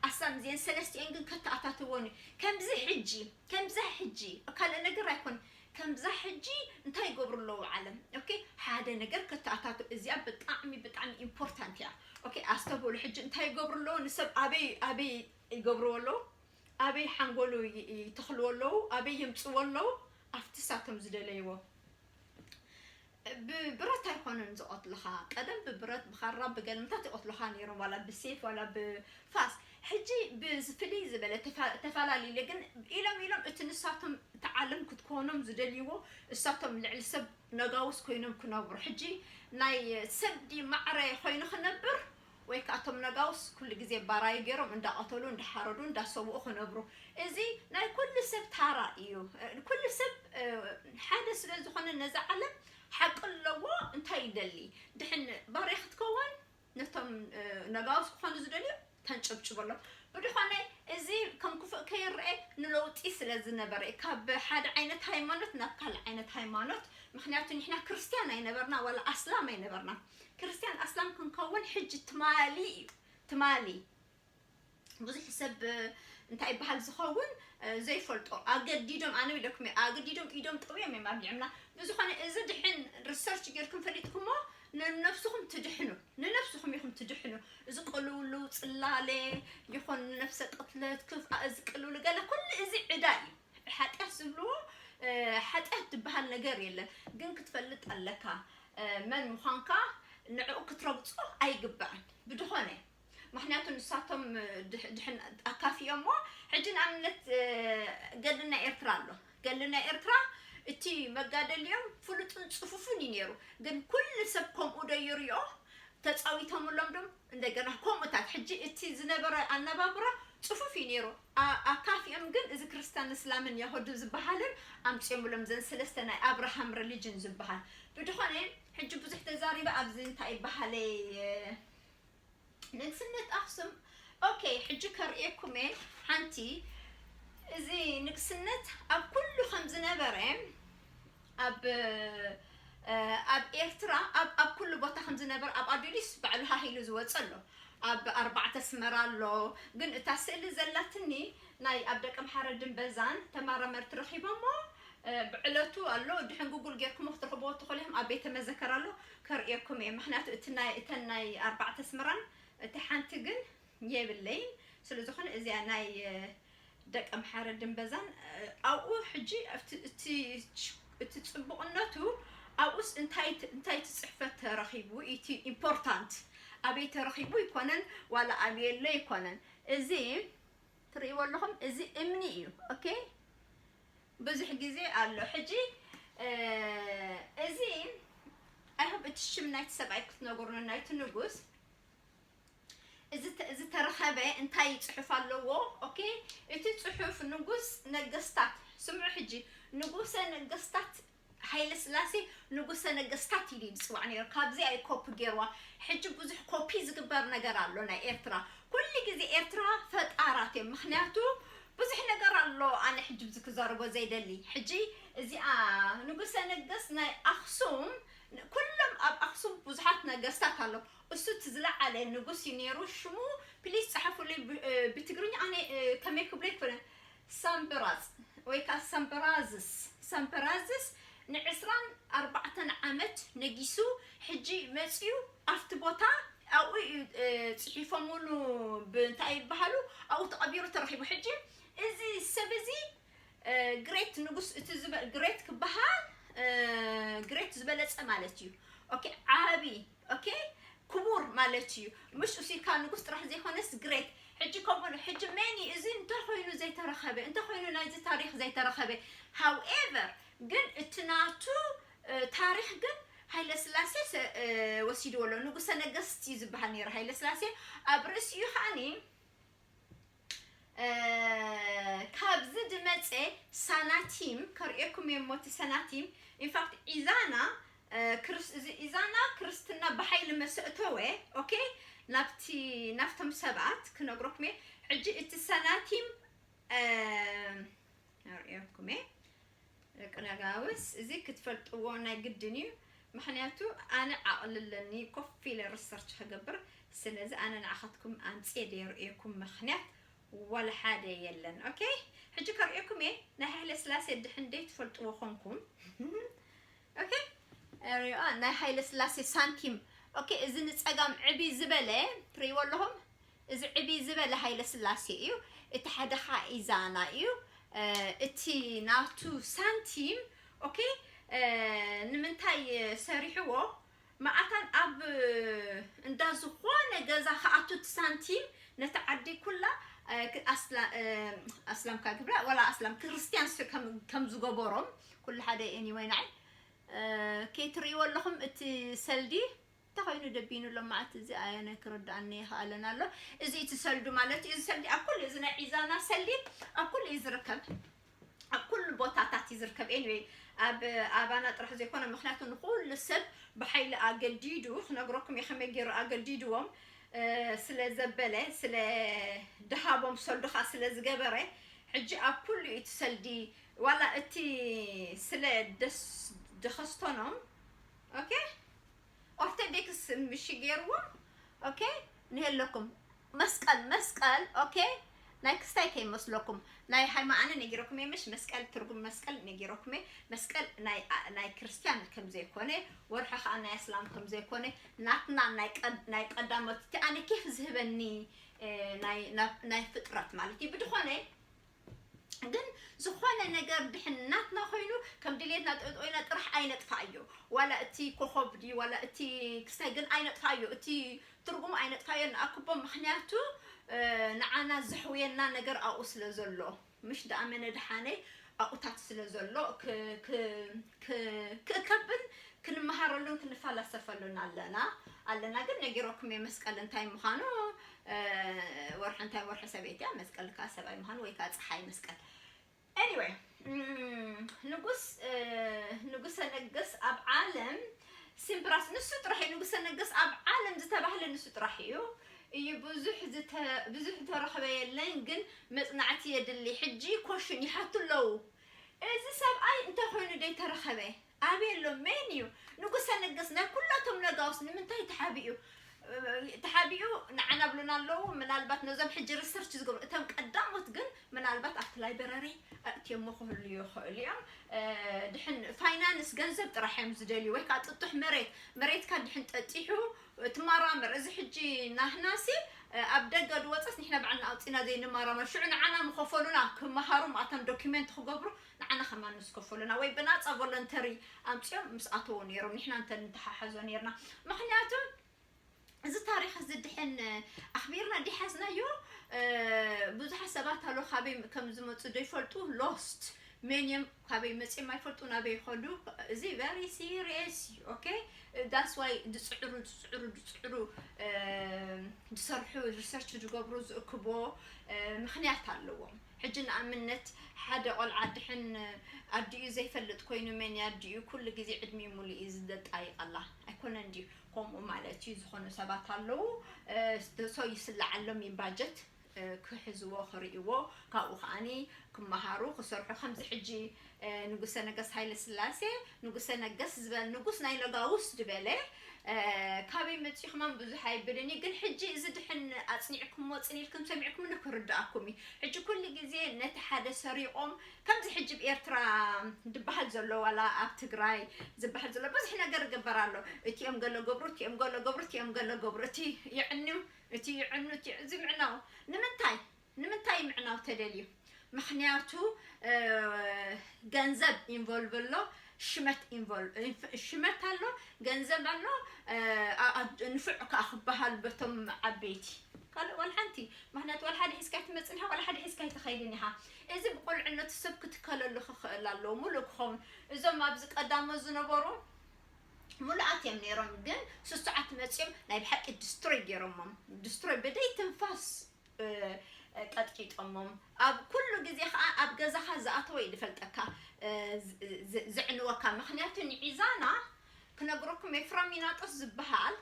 ኣስላም እዚኤን ሰለስቲኤን ግን ከተኣታትዎን ከምዚ ሕጂ ከምዛ ሕጂ ካልእ ነገር ኣይኮን ከምዛ ሕጂ እንታይ ይገብሩ ኣለዉ ዓለም ኦኬ ሓደ ነገር ከተኣታቱ እዚኣ ብጣዕሚ ብጣዕሚ ኢምፖርታንት እያ ኦኬ ኣስተብህሉ ሕጂ እንታይ ይገብሩ ኣለዉ ንሰብ ኣበይ ኣበይ ይገብርዎ ኣለዉ ኣበይ ሓንጎሉ ይተኽልዎ ኣለዉ ኣበይ የምጽዎ ኣለዉ ኣብቲ እሳቶም ዝደለይዎ ብብረት ኣይኮነን ዝቀትልኻ ቀደም ብብረት ብኻራ ብገልምታት ይቀትልኻ ነይሮም ዋላ ብሴፍ ዋላ ብፋስ ሕጂ ብዝፍልይ ዝበለ ተፋላሊለ ግን ኢሎም ኢሎም እቲ ንሳቶም እቲ ዓለም ክትኮኖም ዝደልይዎ እሳቶም ልዕሊ ሰብ ነጋውስ ኮይኖም ክነብሩ ሕጂ ናይ ሰብ ዲ ማዕረ ኮይኑ ክነብር ወይ ከኣ እቶም ነጋውስ ኩሉ ግዜ ባራዩ ጌሮም እንዳቐተሉ እንዳሓረዱ እንዳሰውኡ ክነብሩ እዚ ናይ ኩሉ ሰብ ታራ ኢዩ ኩሉ ሰብ ሓደ ስለ ዝኾነ ነዛ ዓለም ሓቂ ኣለዎ እንታይ ይደሊ ድሕን ባርያ ክትከውን ነቶም ነጋውስ ክኾኑ ዝደልዩ ተንጨብጭበሎም ብድኾነ እዚ ከም ክፉእ ከይረኤ ንለውጢ ስለ ዝነበረ ኢዩ ካብ ሓደ ዓይነት ሃይማኖት ናብ ካልእ ዓይነት ሃይማኖት ምኽንያቱ ንሕና ክርስትያን ኣይነበርና ዋላ ኣስላም ኣይነበርና ክርስትያን ኣስላም ክንከውን ሕጂ ትማሊ እዩ ትማሊ ብዙሕ ሰብ እንታይ ይበሃል ዝኸውን ዘይፈልጦ ኣገዲዶም ኣነ ኢለኩም እየ ኣገዲዶም ኢዶም ጠውዮም እዮም ኣብሊዕምና ብዝኾነ እዚ ድሕን ሪሰርች ጌርኩም ፈሊጥኩሞ ንነብስኹም ትድሕኑ ንነብስኹም ኢኹም ትድሕኑ እዚ ቅልውልው ፅላለ ይኹን ነፍሰ ቅትለት ክፍኣ እዚ ቅልውሉ ገለ ኩሉ እዚ ዕዳ እዩ ሓጢኣት ዝብልዎ ሓጢኣት ዝብሃል ነገር የለን ግን ክትፈልጥ ኣለካ መን ምዃንካ ንዕኡ ክትረግጾ ኣይግባእን ብድኾነ ምክንያቱ ንሳቶም ኣካፊኦሞ ሕጂ ንኣብነት ገድሊ ናይ ኤርትራ ኣሎ ገድሊ ናይ ኤርትራ እቲ መጋደሊኦም ፍሉጥን ጽፉፍን እዩ ነይሩ ግን ኩሉ ሰብ ከምኡ ዶ ይሪኦ ተጻዊቶምሎም ዶም እንደገና ከምኡታት ሕጂ እቲ ዝነበረ ኣነባብራ ጽፉፍ እዩ ነይሩ ኣካፊኦም ግን እዚ ክርስታን እስላምን የሆድን ዝባሃልን ኣምጺኦምሎም ዘን ስለስተ ናይ ኣብራሃም ረሊጅን ዝባሃል ብድኾነ ሕጂ ብዙሕ ተዛሪበ ኣብዚ እንታይ ይባሃለይ ንግስነት ኣክሱም ኦከይ ሕጂ ከርእየኩም እየ ሓንቲ እዚ ንግስነት ኣብ ኩሉ ከም ዝነበረ ኣብ ኣብ ኤርትራ ኣብ ኣብ ኩሉ ቦታ ከም ዝነበር ኣብ ኣዱሊስ ባዕሉ ሃህ ኢሉ ዝወጸ ኣሎ ኣብ ኣርባዕተ ኣስመራ ኣሎ ግን እታ ስእሊ ዘላትኒ ናይ ኣብ ደቀምሓረድን በዛን ተማራመርቲ ረኺቦሞ ብዕለቱ ኣሎ ድሕን ጉጉል ጌርኩሞ ክትረኽብዎ ትኽእሉ ኢኹም ኣብ ቤተ መዘከር ኣሎ ከርእየኩም እየ ምኽንያቱ እቲ ናይ እተን ናይ ኣርባዕተ ኣስመራን እቲ ሓንቲ ግን የብለይን ስለዝኾነ እዚኣ ናይ ደቀምሓረ ድምበዛን ኣብኡ ሕጂ እቲ እቲ ጽቡቕነቱ ኣብኡስ እንታይ እንታይ ትጽሕፈት ተረኺቡ ኢቲ ኢምፖርታንት ኣበይ ተረኺቡ ኣይኮነን ዋላ ኣብይ ኣሎ ኣይኮነን እዚ ትርእይዎ ኣለኹም እዚ እምኒ እዩ ኦኬ ብዙሕ ግዜ ኣሎ ሕጂ እዚ ኣይሆብ እቲ ሽም ናይቲ ሰብኣይ ክትነግሩኒ ናይቲ ንጉስ ዝተረኸበ እንታይ ጽሑፍ ኣለዎ ኦኬ እቲ ጽሑፍ ንጉስ ነገስታት ስምዑ ሕጂ ንጉሰ ነገስታት ሃይለ ስላሴ ንጉሰ ነገስታት ኢሉ ዝፅዋዕ ነይሩ ካብዚኣ እዩ ኮፒ ገይርዋ ሕጂ ብዙሕ ኮፒ ዝግበር ነገር ኣሎ ናይ ኤርትራ ኩሉ ግዜ ኤርትራ ፈጣራት እዮም ምክንያቱ ብዙሕ ነገር ኣሎ ኣነ ሕጂ ብዚ ክዘርቦ ዘይደሊ ሕጂ እዚኣ ንጉሰ ነገስ ናይ ኣክሱም ኩሎም ኣብ ኣክሱም ብዙሓት ነገስታት ኣሎ እሱ እቲ ዝለዓለ ንጉስ እዩ ነይሩ ሽሙ ፕሊስ ጸሐፉለይ ብትግርኛ ኣነ ከመይ ክብሎ ኣይኮነን ሳምበራጽ ወይ ከኣ ሳምበራዝስ ሳምበራዝስ ንዕስራን ኣርባዕተን ዓመት ነጊሱ ሕጂ መጽዩ ኣብቲ ቦታ ኣብኡ እዩ ጽሒፎምሉ ብእንታይ ይበሃሉ ኣብኡ ተቐቢሩ ተረኺቡ ሕጂ እዚ ሰብ እዚ ግሬት ንጉስ እቲ ግሬት ክበሃል ግሬት ዝበለጸ ማለት እዩ ኦኬ ዓቢ ኦኬ ክቡር ማለት ኢዩ ምሽ ኡሲካ ንጉስ ጥራሕ ዘይኮነስ ግሬት ሕጂ ከምኡ ኣሎ ሕጂ መን ኢዩ እዚ እንታይ ኮይኑ ዘይተረከበ እንታይ ኮይኑ ናይዚ ታሪክ ዘይተረከበ ሃው ኤቨር ግን እቲ ናቱ ታሪክ ግን ሃይለስላሴ ወሲድዎ ኣሎ ንጉሰ ነገስት ኢዩ ዝብሃል ነይሩ ሃይለስላሴ ኣብ ርእሲኡ ከኣኒ ካብዚ ድመጸ ሳናቲም ከርእየኩም እየ እሞ እቲ ሰናቲም ኢንፋክት ኢዛና ክርስ እዚ ኢዛና ክርስትና ብሓይሊ መሰእተወ ኦኬ ናብቲ ናፍቶም ሰባት ክነግረኩም እየ ሕጂ እቲ ሰናቲም ኣርእየኩም እየ ደቂ ነጋውስ እዚ ክትፈልጥዎ ናይ ግድን እዩ ምክንያቱ ኣነ ዓቕሊ ኣለኒ ኮፍ ኢለ ሪሰርች ክገብር ስለዚ ኣነ ንዓኻትኩም ኣምፅየ ደየርእየኩም ምክንያት ዋላ ሓደ የለን ኦኬ ሕጂ ከርእየኩም እየ ናይ ሃይለ ስላሴ ድሕን ደይትፈልጥዎ ኮንኩም ኦኬ ሪኦ ናይ ሃይለ ስላሴ ሳንቲም ኦኬ እዚ ንፀጋም ዕብይ ዝበለ ትርእይዎ ኣለኹም እዚ ዕብይ ዝበለ ሃይለስላሴ እዩ እቲ ሓደ ካዓ ኢዛና እዩ እቲ ናቱ ሳንቲም ኦኬ ንምንታይ ሰሪሕዎ ማኣታን ኣብ እንዳ ዝኾነ ገዛ ክኣቱ እቲ ሳንቲም ነቲ ዓዲ ኩላ ኣስላም ካዓ ግብራ ዋላ ኣስላም ክርስትያን ከም ዝገበሮም ኩሉ ሓደ እዩ ኤኒወይ ናዓይ ከይትርእይዎ ኣለኹም እቲ ሰልዲ እንታይ ኮይኑ ደቢኑ ሎማዓንቲ እዚ ኣያናይ ክርዳኣኒ ኣይክኣለን ኣሎ እዚ እቲ ሰልዱ ማለት እዩ እዚ ሰልዲ ኣብ ኩሉ እዚ ናይ ዒዛና ሰልዲ ኣብ ኩሉ እዩ ዝርከብ ኣብ ኩሉ ቦታታት እዩ ዝርከብ ኤኒዌይ ኣብ ኣባና ጥራሕ ዘይኮነ ምክንያቱ ንኩሉ ሰብ ብሓይሊ ኣገዲዱ ክነግረኩም እዩ ከመይ ገይሩ ኣገዲድዎም ስለ ዘበለ ስለ ድሃቦም ሰልዱ ከዓ ስለ ዝገበረ ሕጂ ኣብ ኩሉ እዩ እቲ ሰልዲ ዋላ እቲ ስለ ደስ ደኸስቶኖም ኦኬ ኦርተዴክስ ምሽ ጌርዎም ኦኬ ንሄለኩም መስቀል መስቀል ኦኬ ናይ ክስታይ ከይመስለኩም ናይ ሃይማ ኣነ ነጊረኩም እየ ምሽ መስቀል ትርጉም መስቀል ነጊረኩም እየ መስቀል ናይ ናይ ክርስትያን ከም ዘይኮነ ወርሒ ከዓ ናይ ኣስላም ከም ዘይኮነ ናትና ናይ ቀድ ናይ ቀዳሞት እቲ ኣነ ኬፍ ዝህበኒ ናይ ናይ ፍጥረት ማለት እዩ ብድኾነ ግን ዝኾነ ነገር ድሕን ናትና ኮይኑ ከም ድሌትና ጠጦይና ጥራሕ ኣይነጥፋኣዮ ዋላ እቲ ኮኾብ ድዩ ዋላ እቲ ክስታይ ግን ኣይነጥፋኣዮ እቲ ትርጉም ኣይነጥፋኣዮ ንኣክቦ ምክንያቱ ንዓና ዘሕውየና ነገር ኣብኡ ስለ ዘሎ ምሽ ድኣመነ ድሓነይ ኣብኡታት ስለ ዘሎ ክእከብን ክንመሃረሉን ክንፈላሰፈሉን ኣለና ኣለና ግን ነጊረኩም እየ መስቀል እንታይ ምዃኑ ወርሒ እንታይ ወርሒ ሰበይቲ ኣብ መስቀል ከኣ ሰብኣይ ምዃን ወይ ከኣ ፀሓይ መስቀል ኤኒወይ ንጉስ ንጉሰ ነገስ ኣብ ዓለም ሲምፕራስ ንሱ ጥራሕ እዩ ንጉሰ ነገስ ኣብ ዓለም ዝተባህለ ንሱ ጥራሕ እዩ እዩ ብዙሕ ብዙሕ ተረኽበ የለን ግን መፅናዕቲ የድሊ ሕጂ ኮሽን ይሓቱ ኣለዉ እዚ ሰብኣይ እንተኮይኑ ደይ ተረኸበ ኣበይ ኣሎ መን እዩ ንጉሰ ነገስ ናይ ኩላቶም ነጋውስ ንምንታይ ተሓቢኡ ተሓቢኡ ንዓና ብሉና ኣለዉ ምናልባት ነዞም ሕጂ ሪሰርች ዝገብሩ እቶም ቀዳሞት ግን ምናልባት ኣብቲ ላይብረሪ ኣእትዮሞ ክህሉ ይኽእሉ እዮም ድሕን ፋይናንስ ገንዘብ ጥራሕ እዮም ዝደልዩ ወይ ከዓ ጥጡሕ መሬት መሬትካ ድሕን ጠጢሑ ትማራምር እዚ ሕጂ ናህናሲ ኣብ ደገ ድወፀስ ንሕና ባዕልና ኣውፂና ዘይንማራመር ሽዑ ንዓና ምኸፈሉና ክመሃሩ ማእታን ዶኪመንት ክገብሩ ንዓና ከማን ምስ ከፈሉና ወይ ብናጻ ቮለንተሪ ኣምጺኦም ምስ ኣተዉ ነይሮም ንሕና እንተ ንተሓሓዞ ነርና ምክንያቱ እዚ ታሪክ እዚ ድሕን ኣክቢርና ዲ ሓዝናዮ ብዙሓት ሰባት ኣሎ ካበይ ከም ዝመጹ ዘይፈልጡ ሎስት ሜንየም ካበይ መፅም ኣይፈልጡ ናበይ ይኸዱ እዚ ቨሪ ሲሪየስ እዩ ኦኬ ዳስ ዋይ ዝፅዕሩ ዝፅዕሩ ዝፅዕሩ ዝሰርሑ ሪሰርች ዝገብሩ ዝእክቦ ምክንያት ኣለዎም ሕጂ ንኣምነት ሓደ ቆልዓ ድሕን ኣዲኡ ዘይፈልጥ ኮይኑ መን እያ ኣዲኡ ኩሉ ግዜ ዕድሚኡ ሙሉእ እዩ ዝደጣይቀላ ኣይኮነን ድዩ ከምኡ ማለት እዩ ዝኾኑ ሰባት ኣለዉ so ይስለዓሎም እዩ ባጀት ክሕዝዎ ክርእይዎ ካብኡ ከኣ ክመሃሩ ክሰርሑ ከምዚ ሕጂ ንጉሰ ነገስት ሃይለ ስላሴ ንጉሰ ነገስት ዝበል ንጉስ ናይ ነጋውስ ድበለ ካበይ መጺኹም ኣም ብዙሕ ኣይብልን እዩ ግን ሕጂ እዚ ድሕን ኣጽኒዕኩሞ ጽን ኢልኩም ሰሚዕኩምኒ ክርድኣኩም እዩ ሕጂ ኩሉ ግዜ ነቲ ሓደ ሰሪቆም ከምዚ ሕጂ ብ ኤርትራ ድበሃል ዘሎ ዋላ ኣብ ትግራይ ዝበሃል ዘሎ ብዙሕ ነገር ይግበር ኣሎ እቲኦም ገለ ገብሩ እቲኦም ገለ ገብሩ እቲኦም ገለ ገብሩ እቲ የዕኑ እቲ ይዕኑ እቲ እዚ ምዕናው ንምንታይ ንምንታይ ምዕናው ተደልዩ ምክንያቱ ገንዘብ ኢንቮልቭ ኣሎ ሽመት ኢንቮልቭ ሽመት ኣሎ ገንዘብ ኣሎ ንፍዕ ከዓ ክበሃሉ በቶም ዓበይቲ ካልእ ዋላ ሓንቲ ምክንያቱ ዋላ ሓደ ሒዝካ ትመፅን ኢኻ ዋላ ሓደ ሒዝካ ኣይትኸይድን ኢኻ እዚ ብቆልዕነቱ ሰብ ክትከለሉ ክኽእል ኣለዎ ሙሉእ ክኸውን እዞም ኣብዚ ቀዳሞ ዝነበሩ ሙሉኣት እዮም ነይሮም ግን ስሱዓት መፂኦም ናይ ብሓቂ ድስትሮይ ገይሮሞም ድስትሮይ ብደይ ትንፋስ ቀጥቂጦሞም ኣብ ኩሉ ግዜ ከኣ ኣብ ገዛኻ ዝኣተወ እዩ ዝፈልጠካ ዘዕንወካ ምኽንያቱ ንዒዛና ክነግረኩም እየ ፍራሚናጦስ ዝበሃል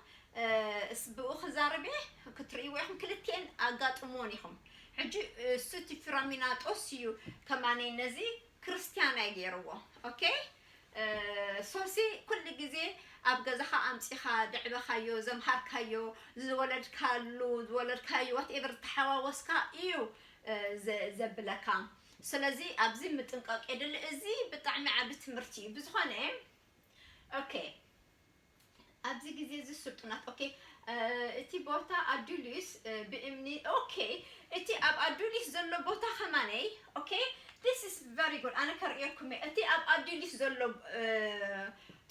እስ ብኡ ክዛረብ እየ ክትርእይዎ ኢኹም ክልቲኤን ኣጋጥምዎን ኢኹም ሕጂ እሱ እቲ ፍራሚናጦስ እዩ ከማነይ ነዚ ክርስትያን ኣይ ጌርዎ ኦኬ። ሶሲ ኩሉ ግዜ ኣብ ገዛኻ ኣምጺኻ ዘዕበኻዮ ዘምሃርካዮ ዝወለድካሉ ዝወለድካዮ ዋትኤቨር ዝተሓዋወስካ ኢዩ ዘብለካ ስለዚ ኣብዚ ምጥንቃቕ የድሊ እዚ ብጣዕሚ ዓቢ ትምህርቲ ኢዩ ብዝኾነ ኦኬ ኣብዚ ግዜ እዚ ስልጡናት ኦኬ እቲ ቦታ ኣዱሊስ ብእምኒ ኦኬ እቲ ኣብ ኣዱሊስ ዘሎ ቦታ ከማነ ኦኬ this is very good ኣነ ከርእየኩም እየ እቲ ኣብ ኣዱሊስ ዘሎ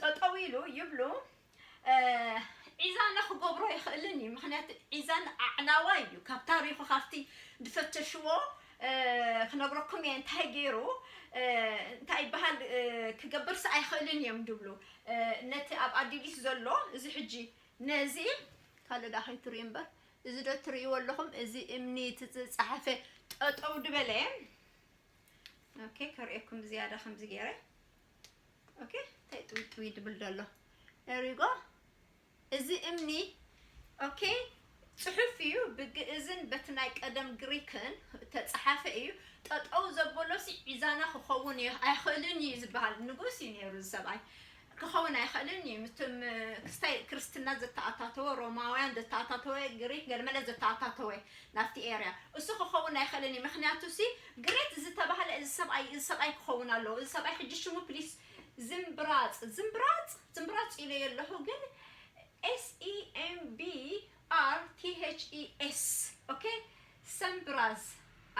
ጠጠው ኢሉ ይብሉ ዒዛነ ክገብሮ ይኽእልን እዩ ምክንያቱ ዒዛን ኣዕናዋይ እዩ ካብ ታሪኹ ካብቲ ዝፈተሽዎ ክነግረኩም እየ እንታይ ገይሩ እንታይ ይበሃል ክገብርስ ኣይኽእልን እዮም ድብሉ ነቲ ኣብ ኣዲሊስ ዘሎ እዚ ሕጂ ነዚ ካልእ ዳ ከይትርእዩ እምበር እዚ ዶ ትርእይዎ ኣለኹም እዚ እምኒ እቲ ዝፀሓፈ ጠጠው ድበለ ኦኬ ከርእየኩም ብዝያዳ ከምዚ ገይረ ኦኬ እንታይ ጥውጥዊ ድብል ዘሎ ሪጎ እዚ እምኒ ኦኬ ጽሑፍ እዩ ብግእዝን በቲ ናይ ቀደም ግሪክን እተጸሓፈ እዩ ጠጠው ዘበሎሲ ዒዛና ክኸውን እዩ ኣይኽእልን እዩ ዝበሃል ንጉስ እዩ ነይሩ እዚ ሰብኣይ ክኸውን ኣይኽእልን እዩ ምትም ክስታይ ክርስትና ዘተኣታተወ ሮማውያን ዘተኣታተወ ግሪክ ገለመለ ዘተኣታተወ ናብቲ ኤርያ እሱ ክኸውን ኣይኽእልን እዩ ምክንያቱ ሲ ግሬት ዝተባህለ እዚ ሰብኣይ እዚ ሰብኣይ ክኸውን ኣለዎ እዚ ሰብኣይ ሕጂ ሽሙ ፕሊስ ዝምብራጽ ዝምብራጽ ትምራጽ ኢለዮ ኣለኹ ግን SEMBRTHES ok Sembraz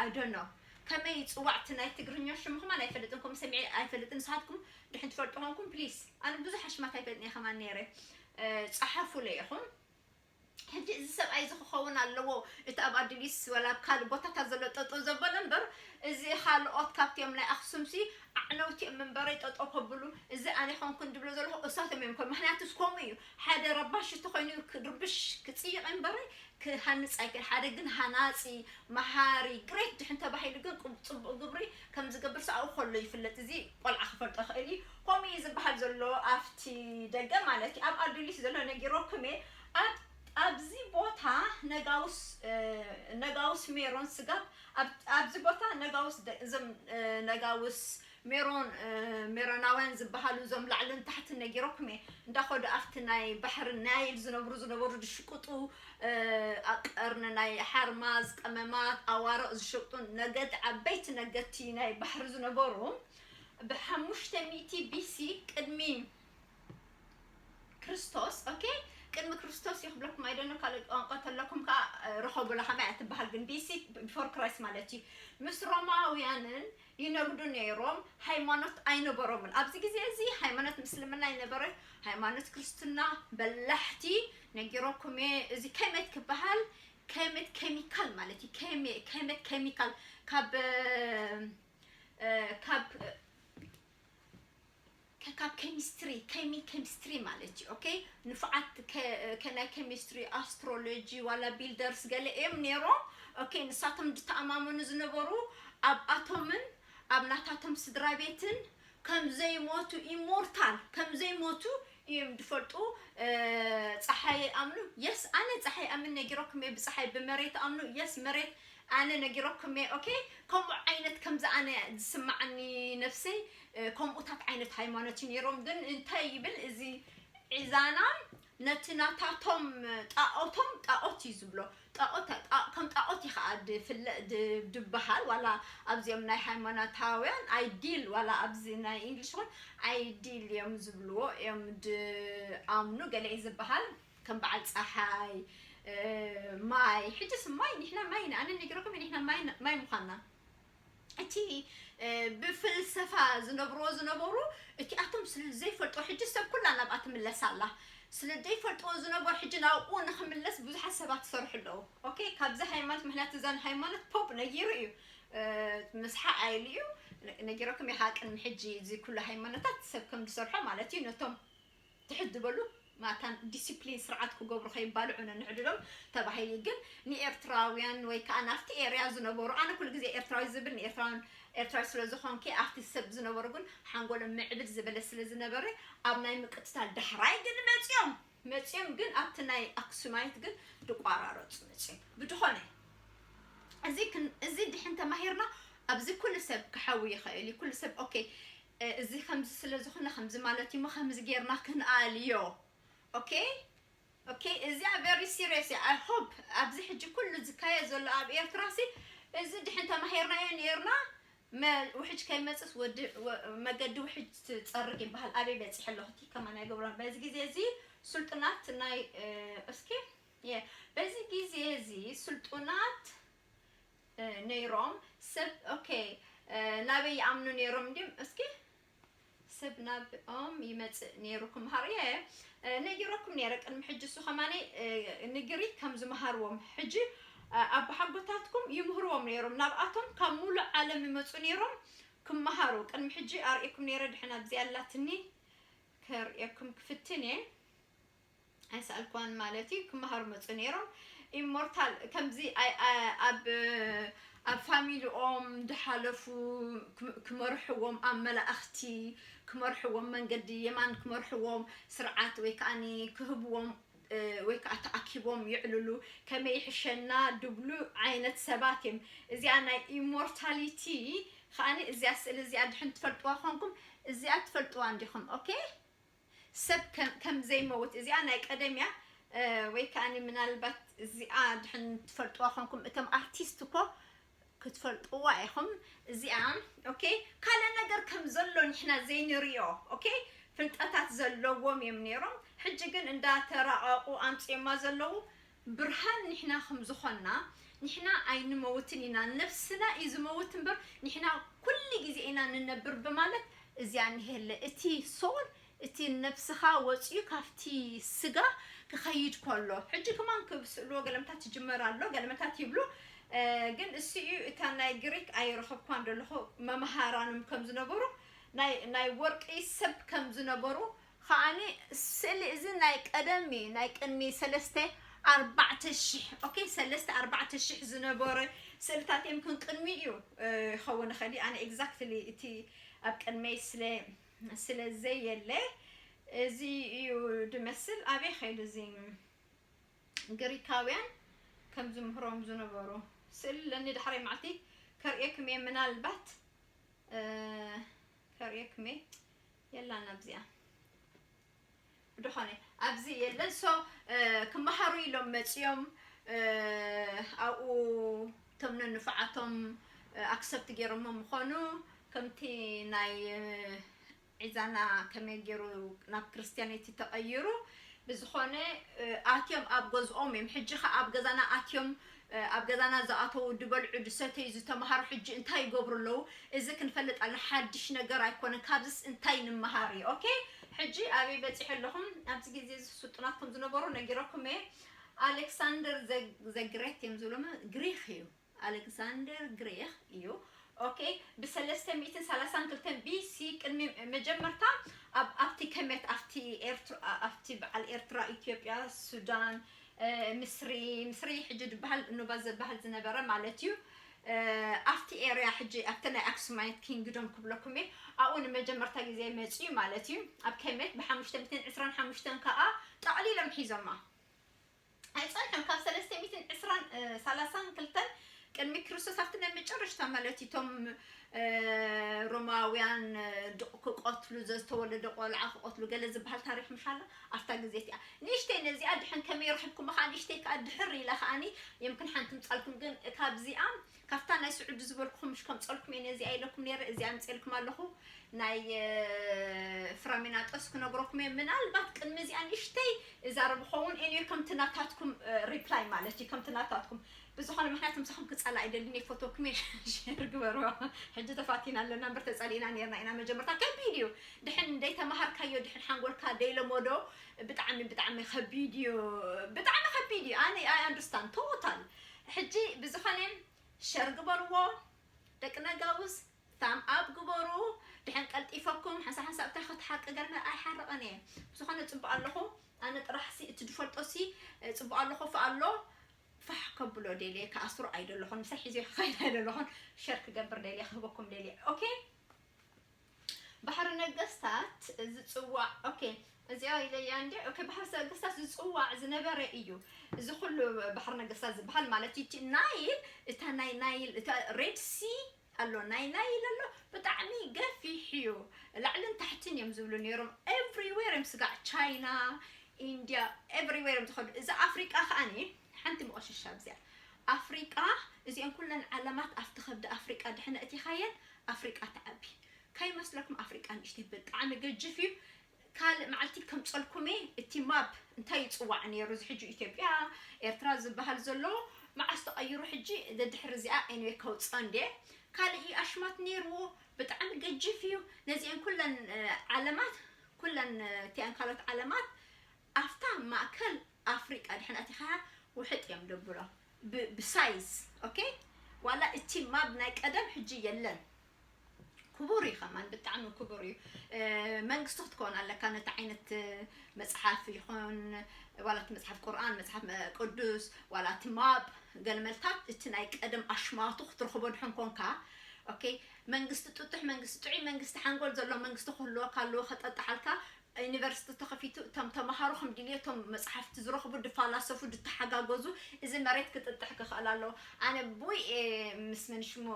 I don't know ከመይ ይጽዋዕ እቲ ናይ ትግርኛ ሽሙ ከማን ኣይፈልጥን ከምኡ ሰሚዐ ኣይፈልጥን ንስኻትኩም ድሕን ትፈልጡ ኮንኩም please ኣነ ብዙሕ ኣሽማት ኣይፈልጥን እየ ከማን ነይረ ጸሓፉለይ ኢኹም ሕጂ እዚ ሰብኣይ እዚ ክኸውን ኣለዎ እቲ ኣብ ኣድሊስ ወላ ኣብ ካልእ ቦታታት ዘሎ ጠጠው ዘበለ እምበር እዚ ካልኦት ካብቲኦም ናይ ኣክሱምሲ ኣዕነውቲ እዮም እምበረይ ጠጠው ከብሉ እዚ ኣነ ኮንኩን ድብሎ ዘለኹ እሳቶም እዮም ኮን ምክንያቱስ ከምኡ እዩ ሓደ ረባሽ እንተኾይኑ ክርብሽ ክጽይቕ እምበረይ ክሃንጽ ኣይክእል ሓደ ግን ሃናጺ መሃሪ ግሬት ድሕን ተባሂሉ ግን ጽቡቕ ግብሪ ከም ዝገብር ሰብኣኡ ከሎ ይፍለጥ እዚ ቆልዓ ክፈልጦ ይኽእል እዩ ከምኡ እዩ ዝብሃል ዘሎ ኣብቲ ደገ ማለት እዩ ኣብ ኣዱሊስ ዘሎ ነጊረኩም እየ ኣብ ኣብዚ ቦታ ነጋውስ ነጋውስ ሜሮን ስጋብ ኣብዚ ቦታ ነጋውስ እዞም ነጋውስ ሜሮን ሜሮናውያን ዝበሃሉ እዞም ላዕልን ታሕትን ነጊረኩም እየ እንዳኸዱ ኣብቲ ናይ ባሕሪ ናይል ዝነብሩ ዝነበሩ ዝሽቅጡ ኣቀርኒ ናይ ሓርማዝ ቀመማት ኣዋርቕ ዝሸቅጡ ነገድ ዓበይቲ ነገድቲ ናይ ባሕሪ ዝነበሩ ብ ሓሙሽተ ሚእቲ BC ቅድሚ ክርስቶስ ok ቅድሚ ክርስቶስ እዩ ክብለኩም i don't know ካልኦት ቋንቋ ተለኩም ከኣ ርኸቡላ ከመይ እያ ትበሃል ግን BC before Christ ማለት እዩ ምስ ሮማውያንን ይነግዱ ነይሮም ሃይማኖት ኣይነበሮምን ኣብዚ ግዜ እዚ ሃይማኖት ምስልምና ይነበረ ሃይማኖት ክርስትና በላሕቲ ነጊረኩም እየ እዚ ከመት ክበሃል ከመት ኬሚካል ማለት እዩ ከመት ኬሚካል ካብ ካብ ኬሚስትሪ ኬሚ ኬሚስትሪ ማለት እዩ ኦኬ ንፉዓት ከናይ ኬሚስትሪ ኣስትሮሎጂ ዋላ ቢልደርስ ገለ እዮም ነይሮም ኦኬ ንሳቶም ዝተኣማመኑ ዝነበሩ ኣብ ኣቶምን ኣብ ናታቶም ስድራ ቤትን ከም ዘይሞቱ immortal ከም ዘይሞቱ ኢዩም ድፈልጡ ጸሓይ ኣይኣምኑ yes ኣነ ጸሓይ ኣምን ነጊረኩም እየ ብጸሓይ ብመሬት ኣምኑ yes መሬት ኣነ ነጊረኩም እየ ኦኬ ከምኡ ዓይነት ከምዚ ኣነ ዝስማዓኒ ነፍሰይ ከምኡታት ዓይነት ሃይማኖት እዩ ነይሮም ግን እንታይ ይብል እዚ ዒዛና ነቲ ናታቶም ጣኦቶም ጣኦት እዩ ዝብሎ ጣኦት ከም ጣኦት ኢኻኣ ድፍለ ድብሃል ዋላ ኣብዚኦም ናይ ሃይማናታውያን ኣይዲል ዋላ ኣብዚ ናይ ኢንግሊሽ ውን ኣይዲል እዮም ዝብልዎ እዮም ድኣምኑ ገለ እዩ ዝብሃል ከም ብዓል ጻሓይ ማይ ሕጅስ ማይ ኒሕና ማይ ኣነ ኔግረኩም እየ ኒሕና ማይ ማይ ሙኻና እቲ ብፍልሰፋ ዝነብርዎ ዝነበሩ እቲኣቶም ስለ ዘይፈልጥዎ ሕጂ ሰብ ኩላ ናብኣ ትምለስ ኣላ ስለ ዘይፈልጥዎ ዝነበሩ ሕጂ ናብኡ ንኽምለስ ብዙሓት ሰባት ይሰርሑ ኣለዉ ኦኬ ካብዚ ሃይማኖት ምክንያቱ እዘን ሃይማኖት ፖፕ ነጊሩ እዩ ምስሓኣ ኢሉ እዩ ነጊረኩም ይሃቅን ሕጂ እዚ ኩሉ ሃይማኖታት ሰብ ከም ዝሰርሖ ማለት እዩ ነቶም ትሕት ዝበሉ ማታን ዲሲፕሊን ስርዓት ክገብሩ ከይባልዑ ነንዕድሎም ተባሂሉ ግን ንኤርትራውያን ወይ ከኣ ናብቲ ኤርያ ዝነበሩ ኣነ ኩሉ ግዜ ኤርትራዊ ዝብል ንኤርትራውያን ኤርትራዊ ስለ ዝኾንኪ ኣብቲ ሰብ ዝነበሩ ግን ሓንጎሎም ምዕብል ዝበለ ስለ ዝነበረ ኣብ ናይ ምቅትታል ዳሕራይ ግን መጽዮም መጽዮም ግን ኣብቲ ናይ ኣክሱማይት ግን ድቋራረጹ መጽዮም ብድኾነ እዚ እዚ ድሕን ተማሂርና ኣብዚ ኩሉ ሰብ ክሓዊ ይኽእል እዩ ኩሉ ሰብ ኦኬ እዚ ከምዚ ስለ ዝኮነ ከምዚ ማለት እዩሞ ከምዚ ጌርና ክንኣልዮ ኦኬ ኦኬ እዚኣ ቨሪ ሲርየስ እያ ኣይ ሆፕ ኣብዚ ሕጂ ኩሉ ዝካየድ ዘሎ ኣብ ኤርትራ ሲ እዚ ድሕን ተማሂርናዮ ኔርና መ ውሕጅ ከይመጽስ ወዲ ወ- መገዲ ውሕጅ ትጸርግ ይበሃል ኣበይ በጺሐ ኣለኹ እቲ ከማን ኣይገብሮን በዚ ግዜ እዚ ስልጡናት ናይ እ፣ እስኪ የ- በዚ ግዜ እዚ ስልጡናት ነይሮም ስብ ok ናበይ ይኣምኑ ነይሮም እንድዮም እስኪ ስብ ናብ ኦም ይመጽእ ነይሩ ክምሃር እየ ነጊረኩም ነይረ ቅድሚ ሕጂ እሱ ከማን ንግሪክ ከም ዝምሃርዎም ሕጂ ኣቦሓጎታትኩም ይምህርዎም ነይሮም ናብኣቶም ካብ ሙሉእ ዓለም ይመጹ ነይሮም ክምሃሩ ቅድሚ ሕጂ ኣርእኩም ነይረ ድሕን ኣብዚ ኣላትኒ ከርእየኩም ክፍትን እየ ኣይሰኣልክዋን ማለት እዩ ክመሃሩ መጹ ነይሮም ኢሞርታል ከምዚ ኣብ ኣብ ፋሚሊኦም ድሓለፉ ክመርሕዎም ኣብ መላእኽቲ ክመርሕዎም መንገዲ የማን ክመርሕዎም ስርዓት ወይ ከዓ ክህብዎም ወይ ከዓ ተኣኪቦም ይዕልሉ ከመይ ይሕሸና ድብሉ ዓይነት ሰባት እዮም እዚኣ ናይ ኢሞርታሊቲ ከዓኒ እዚኣ ስእሊ እዚኣ ድሕን ትፈልጥዋ ኮንኩም እዚኣ ትፈልጥዋ እንዲኹም ኦኬ ሰብ ከም ዘይመውት እዚኣ ናይ ቀደም እያ ወይ ከኣኒ ምናልባት እዚኣ ድሕን ትፈልጥዋ ኮንኩም እቶም ኣርቲስት እኮ ክትፈልጥዋ ኢኹም እዚኣ ኦኬ ካልእ ነገር ከም ዘሎ ንሕና ዘይንሪኦ ኦኬ ፍልጠታት ዘለዎም እዮም ነይሮም ሕጂ ግን እንዳተራቐቑ ኣምፅኦማ ዘለዉ ብርሃን ንሕና ከም ዝኾንና ንሕና ኣይንመውትን ኢና ነፍስና እዩ ዝመውት እምበር ንሕና ኩሉ ግዜ ኢና ንነብር ብማለት እዚኣ ንሄለ እቲ ሶል እቲ ነብስኻ ወጺኡ ካብቲ ስጋ ክኸይድ ከሎ ሕጂ ክማን ክብስእልዎ ገለመታት ይጅመር ኣሎ ገለመታት ይብሉ ግን እሱ እዩ እታ ናይ ግሪክ ኣይረኸብኳን ደለኹ መምሃራኖም ከም ዝነበሩ ናይ ናይ ወርቂ ሰብ ከም ዝነበሩ ኸኣኒ ስእሊ እዚ ናይ ቀደም እዩ ናይ ቅድሚ ሰለስተ ኣርባዕተ ሽሕ ኦኬ ሰለስተ ኣርባዕተ ሽሕ ዝነበረ ስእልታት እዮም ክን ቅድሚ እዩ ክኸውን ይኽእል እዩ ኣነ ኤግዛክትሊ እቲ ኣብ ቅድመይ ስለ ስለ ዘየለ እዚ እዩ ድመስል ኣበይ ኸይዱ እዚ ግሪካውያን ከም ዝምህሮም ዝነበሩ ስእሊ ለኒ ዳሕራይ መዓልቲ ከርእየኩም እየ ምናልባት ከርእየኩም እየ የላን ኣብዚኣ ብድኾነ ኣብዚ የለን ሶ ክመሃሩ ኢሎም መፅዮም ኣብኡ እቶም ነንፉዓቶም ኣክሰፕት ገይሮሞ ምኾኑ ከምቲ ናይ ዒዛና ከመይ ገይሩ ናብ ክርስትያነይቲ ተቐይሩ ብዝኾነ ኣትዮም ኣብ ገዝኦም እዮም ሕጂ ከ ኣብ ገዛና ኣትዮም ኣብ ገዛና ዝኣተዉ ድበልዑ ድሰተዩ ዝተምሃሩ ሕጂ እንታይ ይገብሩ ኣለዉ እዚ ክንፈልጥ ኣለና ሓድሽ ነገር ኣይኮነን ካብዝስ እንታይ ንመሃር እዩ ኦኬ ሕጂ ኣበይ በጺሑ ኣለኹ ኣብዚ ግዜ እዚ ስልጡናት ከም ዝነበሩ ነጊረኩም እየ ኣሌክሳንደር ዘ ግሬት እዮም ዝብሉ ግሪኽ እዩ ኣሌክሳንደር ግሪኽ እዩ ኦኬ ብሰለስተ ሚእትን ሰላሳን ክልተን ቢሲ ቅድሚ መጀመርታ ኣብ ኣብቲ ከመት ኣብቲ ኤርትራ ኣብቲ በዓል ኤርትራ ኢትዮጵያ ሱዳን ምስሪ ምስሪ ሕጂ ድበሃል ኑባ ዘበሃል ዝነበረ ማለት እዩ ኣብቲ ኤርያ ሕጂ ኣብቲ ናይ ኣክሱማይት ኪንግዶም ክብለኩም እየ ኣብኡ ንመጀመርታ ግዜ መጽዩ ማለት እዩ ኣብ ከሜት ብሓሙሽተ ሚእትን ዕስራን ሓሙሽተን ከኣ ጠቕሊሎም ሒዞማ ኣይጸንሑን ካብ ሰለስተ ሚእትን ዕስራን ሰላሳን ክልተን ቅድሚ ክርስቶስ ኣብቲ ናይ መጨረሽታ ማለት እዩ እቶም ሮማውያን ድቕ ክቐትሉ ዘዝተወለደ ቆልዓ ክቐትሉ ገለ ዝበሃል ታሪክ ምሻላ ኣብታ ግዜት እያ ንእሽተይ ነዚኣ ድሕን ከመይ ረኽብኩማ ከዓ ንእሽተይ ከዓ ድሕር ኢላ ከዓኒ የምክን ሓንቲ ምፃልኩም ግን ካብዚኣ ካብታ ናይ ስዑዲ ዝበልኩኹም ምሽ ከምፀልኩም እየ ነዚኣ ኢለኩም ነይረ እዚኣ ምፅልኩም ኣለኹ ናይ ፍራሚናጦስ ክነግረኩም እየ ምናልባት ቅድሚ እዚኣ ንእሽተይ እዛረብ ኸውን ኤንዮ ከምቲ ናታትኩም ሪፕላይ ማለት እዩ ከምቲ ናታትኩም ብዝኮነ ምክንያት ምሳኩም ክጻላእ ኣይደልን እየ ክፈትወኩም እየ ሸር ግበርዎ ሕጂ ተፋቲና ኣለና እምበር ተጸሊእና ኔርና ኢና መጀመርታ ከቢድ እዩ ድሕን ደይተማሃርካዮ ድሕን ሓንጎልካ ደይለመዶ ብጣዕሚ ብጣዕሚ ከቢድ እዩ ብጣዕሚ ከቢድ እዩ ኣነ ኣይ ኣንደርስታንድ ቶታል ሕጂ ብዝኮነ ሸር ግበርዎ ደቂ ነጋውስ ታም ኣብ ግበሩ ድሕን ቀልጢፈኩም ሓንሳ ሓንሳ እብታ ከቲ ሓቂ ገርና ኣይሓርቐን እየ ብዝኾነ ፅቡቅ ኣለኹ ኣነ ጥራሕሲ እቲ ዝፈልጦሲ ፅቡቅ ኣለኹ ፍ ኣሎ ፋሕ ከብሎ ደልየ ክኣስሮ ኣይደለኹን ምሳይ ሒዘዮ ክኸይድ ኣይደለኹን ሸር ክገብር ደልየ ክህበኩም ደልየ ኦኬ ባሕሪ ነገስታት ዝጽዋዕ ኦኬ እዚኣ ኢለያ እንዲ ኦኬ ባሕሪ ነገስታት ዝጽዋዕ ዝነበረ እዩ እዚ ኩሉ ባሕሪ ነገስታት ዝበሃል ማለት እቲ ናይል እታ ናይ ናይል እታ ሬድ ሲ ኣሎ ናይ ናይ ኢለ ኣሎ ብጣዕሚ ገፊሕ እዩ ላዕልን ታሕትን እዮም ዝብሉ ነይሮም ኤቭሪዌር እዮም ስጋዕ ቻይና ኢንድያ ኤቭሪዌር እዮም ዝኸዱ እዚ ኣፍሪቃ ከዓኒ ሓንቲ መቆሸሻ ኣብዚኣ ኣፍሪቃ እዚአን ኩለን ዓለማት ኣብቲ ከብዲ ኣፍሪቃ ድሕነ እቲኻየን ኣፍሪቃ ትዓቢ ከይመስለኩም ኣፍሪቃ ንእሽተይ ብጣዕሚ ገጅፍ እዩ ካልእ መዓልቲ ከምጸልኩም እየ እቲ ማፕ እንታይ ይጽዋዕ ኔሩ እዚ ሕጂ ኢትዮጵያ ኤርትራ ዝብሃል ዘሎ መዓስ ተቀይሩ ሕጂ ደድሕሪ እዚኣ ኤኒወይ ከውጽኦ እንድየ ካልእ እዩ ኣሽማት ኔርዎ ብጣዕሚ ገጂፍ እዩ ነዚኤን ኩለን ዓለማት ኩለን እቲኣን ካልኦት ዓለማት ኣፍታ ማእከል ኣፍሪቃ ድሕን ኣቲኻ ውሕጥ እዮም ደብሎ ብ ብሳይዝ ኦኬ ዋላ እቲ ማብ ናይ ቀደም ሕጂ የለን ክቡር እዩ ከማን ብጣዕሚ ክቡር እዩ መንግስቲ ክትከውን ኣለካ ነቲ ዓይነት መጽሓፍ ይኹን ዋላ እቲ መጽሓፍ ቁርኣን መጽሓፍ ቅዱስ ዋላ እቲ ማብ ገልመልታት እቲ ናይ ቀደም ኣሽማቱ ክትረኽቦ ድሕን ኮንካ ኦኬ መንግስቲ ጥጡሕ መንግስቲ ጥዑይ መንግስቲ ሓንጎል ዘሎ መንግስቲ ክህልወካ ኣለዎ ከጠጥሓልካ ዩኒቨርስቲ ተኸፊቱ እቶም ተማሃሮ ከም ድልየቶም መጽሓፍቲ ዝረኽቡ ድፋላሰፉ ድተሓጋገዙ እዚ መሬት ክጥጥሕ ክኸእል ኣለዎ ኣነ ቡይ እየ ምስ መን ሽሙ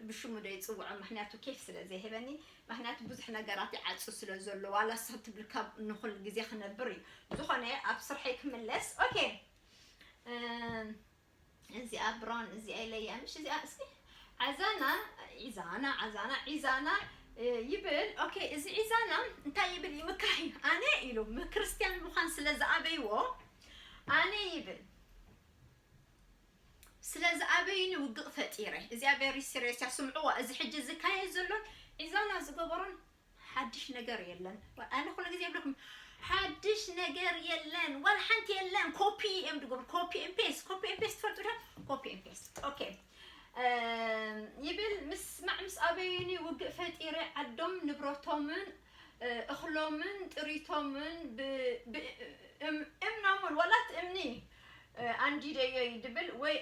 ብሽሙ ዶ ይጽውዖ ምኽንያቱ ኬፍ ስለ ዘይህበኒ ምኽንያቱ ብዙሕ ነገራት ይዓጹ ስለ ዘሎ ዋላ ስኽ ትብል ካብ ንኹል ግዜ ክነብር እዩ ብዝኾነ ኣብ ስርሐይ ክምለስ ኦኬ እዚኣ ብራውን እዚኣ ኢለያ ምሽ እዚኣ እስኪ ዓዛና ዒዛና ዓዛና ዒዛና ይብል ኦኬ እዚ ዒዛና እንታይ ይብል ይምካሕ እዩ ኣነ ኢሉ ክርስትያን ምዃን ስለ ዝኣበይዎ ኣነ ይብል ስለ ዝኣበይኒ ውግቕ ፈጢረ እዚኣ ቬሪ ሲሪየስ እያ ስምዕዋ እዚ ሕጂ ዝካየድ ዘሎን ዒዛና ዝገበሮን ሓድሽ ነገር የለን ኣነ ኩሉ ግዜ ይብለኩም ሓድሽ ነገር የለን ዋላ ሓንቲ የለን ኮፒ እዮም ድገብሩ ኮፒ ን ፔስት ኮፒ ን ፔስት ትፈልጡ ዶ ኮፒ ን ፔስት ኦኬ ይብል ምስማዕ ምስ ኣበዩኒ ውግእ ፈጢረ ዓዶም ንብረቶምን እኽሎምን ጥሪቶምን እምኖምን ዋላ እቲ እምኒ ኣንዲደዮይ ድብል ወይ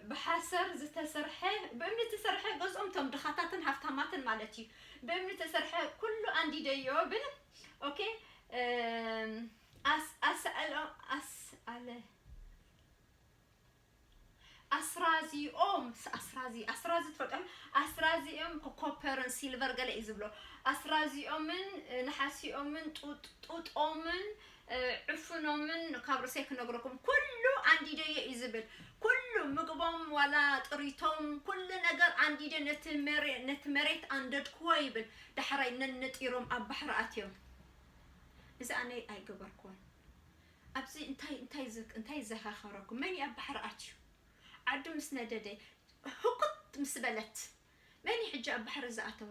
ብሓሰር ዝተሰርሐ ብእምኒ እተሰርሐ ገዝኦም እቶም ድኻታትን ሃፍታማትን ማለት እዩ ብእምኒ እተሰርሐ ኩሉ ኣንዲደዮ ብል ኦኬ ኣስ ኣስኣሎ ኣስ ኣለ ኣስራዚኦም ኣስራዚ ኣስራዚ ትፈልጦም ኣስራዚኦም ኮፐርን ሲልቨር ገለ እዩ ዝብሎ ኣስራዚኦምን ንሓሲኦምን ጡጦምን ዕፉኖምን ካብ ርእሰይ ክነግረኩም ኩሉ ኣንዲደዮ እዩ ዝብል ኩሉ ምግቦም ዋላ ጥሪቶም ኩሉ ነገር ኣንዲደ ነቲ መሬ ነቲ መሬት ኣንደድክዎ ይብል ዳሕራይ ነንጢሮም ኣብ ባሕሪ ኣትዮም እዚ ኣነ ኣይገበርክዎን ኣብዚ እንታይ እንታይ ዝ- እንታይ ዘኸኸረኩም መን እዩ ኣብ ባሕሪ ኣትዩ ዓዱ ምስ ነደደ ህኩት ምስ በለት መን እዩ ሕጂ ኣብ ባሕሪ ዝኣተወ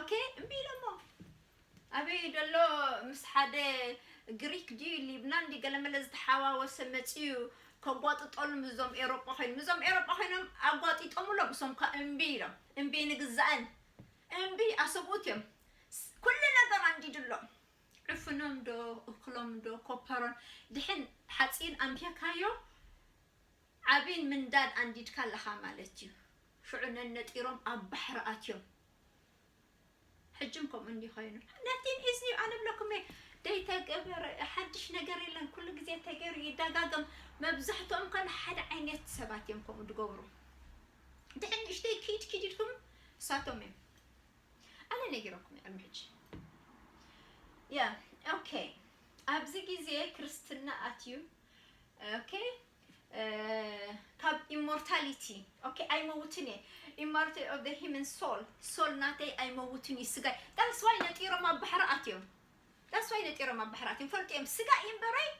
ኦኬ እምቢ ኢሎሞ ኣበይ ደሎ ምስ ሓደ ግሪክ ድዩ ሊብናን ድዩ ገለመለ ዝተሓዋወሰ መጺኡ ከጓጥጠሉ ምስዞም ኤሮጳ ኮይኑ ምስዞም ኤሮጳ ኮይኖም ኣጓጢጦምሎም እሶም ኳ እምቢ ኢሎም እምቢ ንግዛእን እምቢ ኣሰብኡት እዮም ኩሉ ነገር ኣንዲድሎም ዕፍኖም ዶ እክሎም ዶ ኮፐሮን ድሕን ሓፂን ኣንቢርካዮ ዓብን ምንዳድ ኣንዲድካ ኣለኻ ማለት እዩ ሽዑ ነነጢሮም ኣብ ባሕሪ ኣትዮም ሕጅም ከምኡ እንዲ ኮይኑ ነቲን ኢዝኒ ኣነ ብለኩም እየ ደይ ተገበረ ሓድሽ ነገር የለን ኩሉ ግዜ ተገሩ ይደጋገም መብዛሕትኦም ከ ሓደ ዓይነት ሰባት እዮም ከምኡ ድገብሩ ድሕን ንእሽተይ ኪድ ኪድ ኢልኩም እሳቶም እዮም ኣነ ነጊረኩም እየ ቅድሚ ሕጂ ያ ኦኬ ኣብዚ ግዜ ክርስትና ኣትዩ ኦኬ ካብ ኢሞርታሊቲ ኦኬ ኣይመውትን እየ ኢሞርቲ ኦፍ ዘ ሂመን ሶል ሶል ናተይ ኣይመውትን እዩ ስጋይ ዳስዋይ ነጢሮም ኣብ ባሕሪ ኣትዮም ዳስዋይ ነጢሮም ኣብ ባሕሪ ኣትዮም ፈልጡ እዮም ስጋ እምበረይ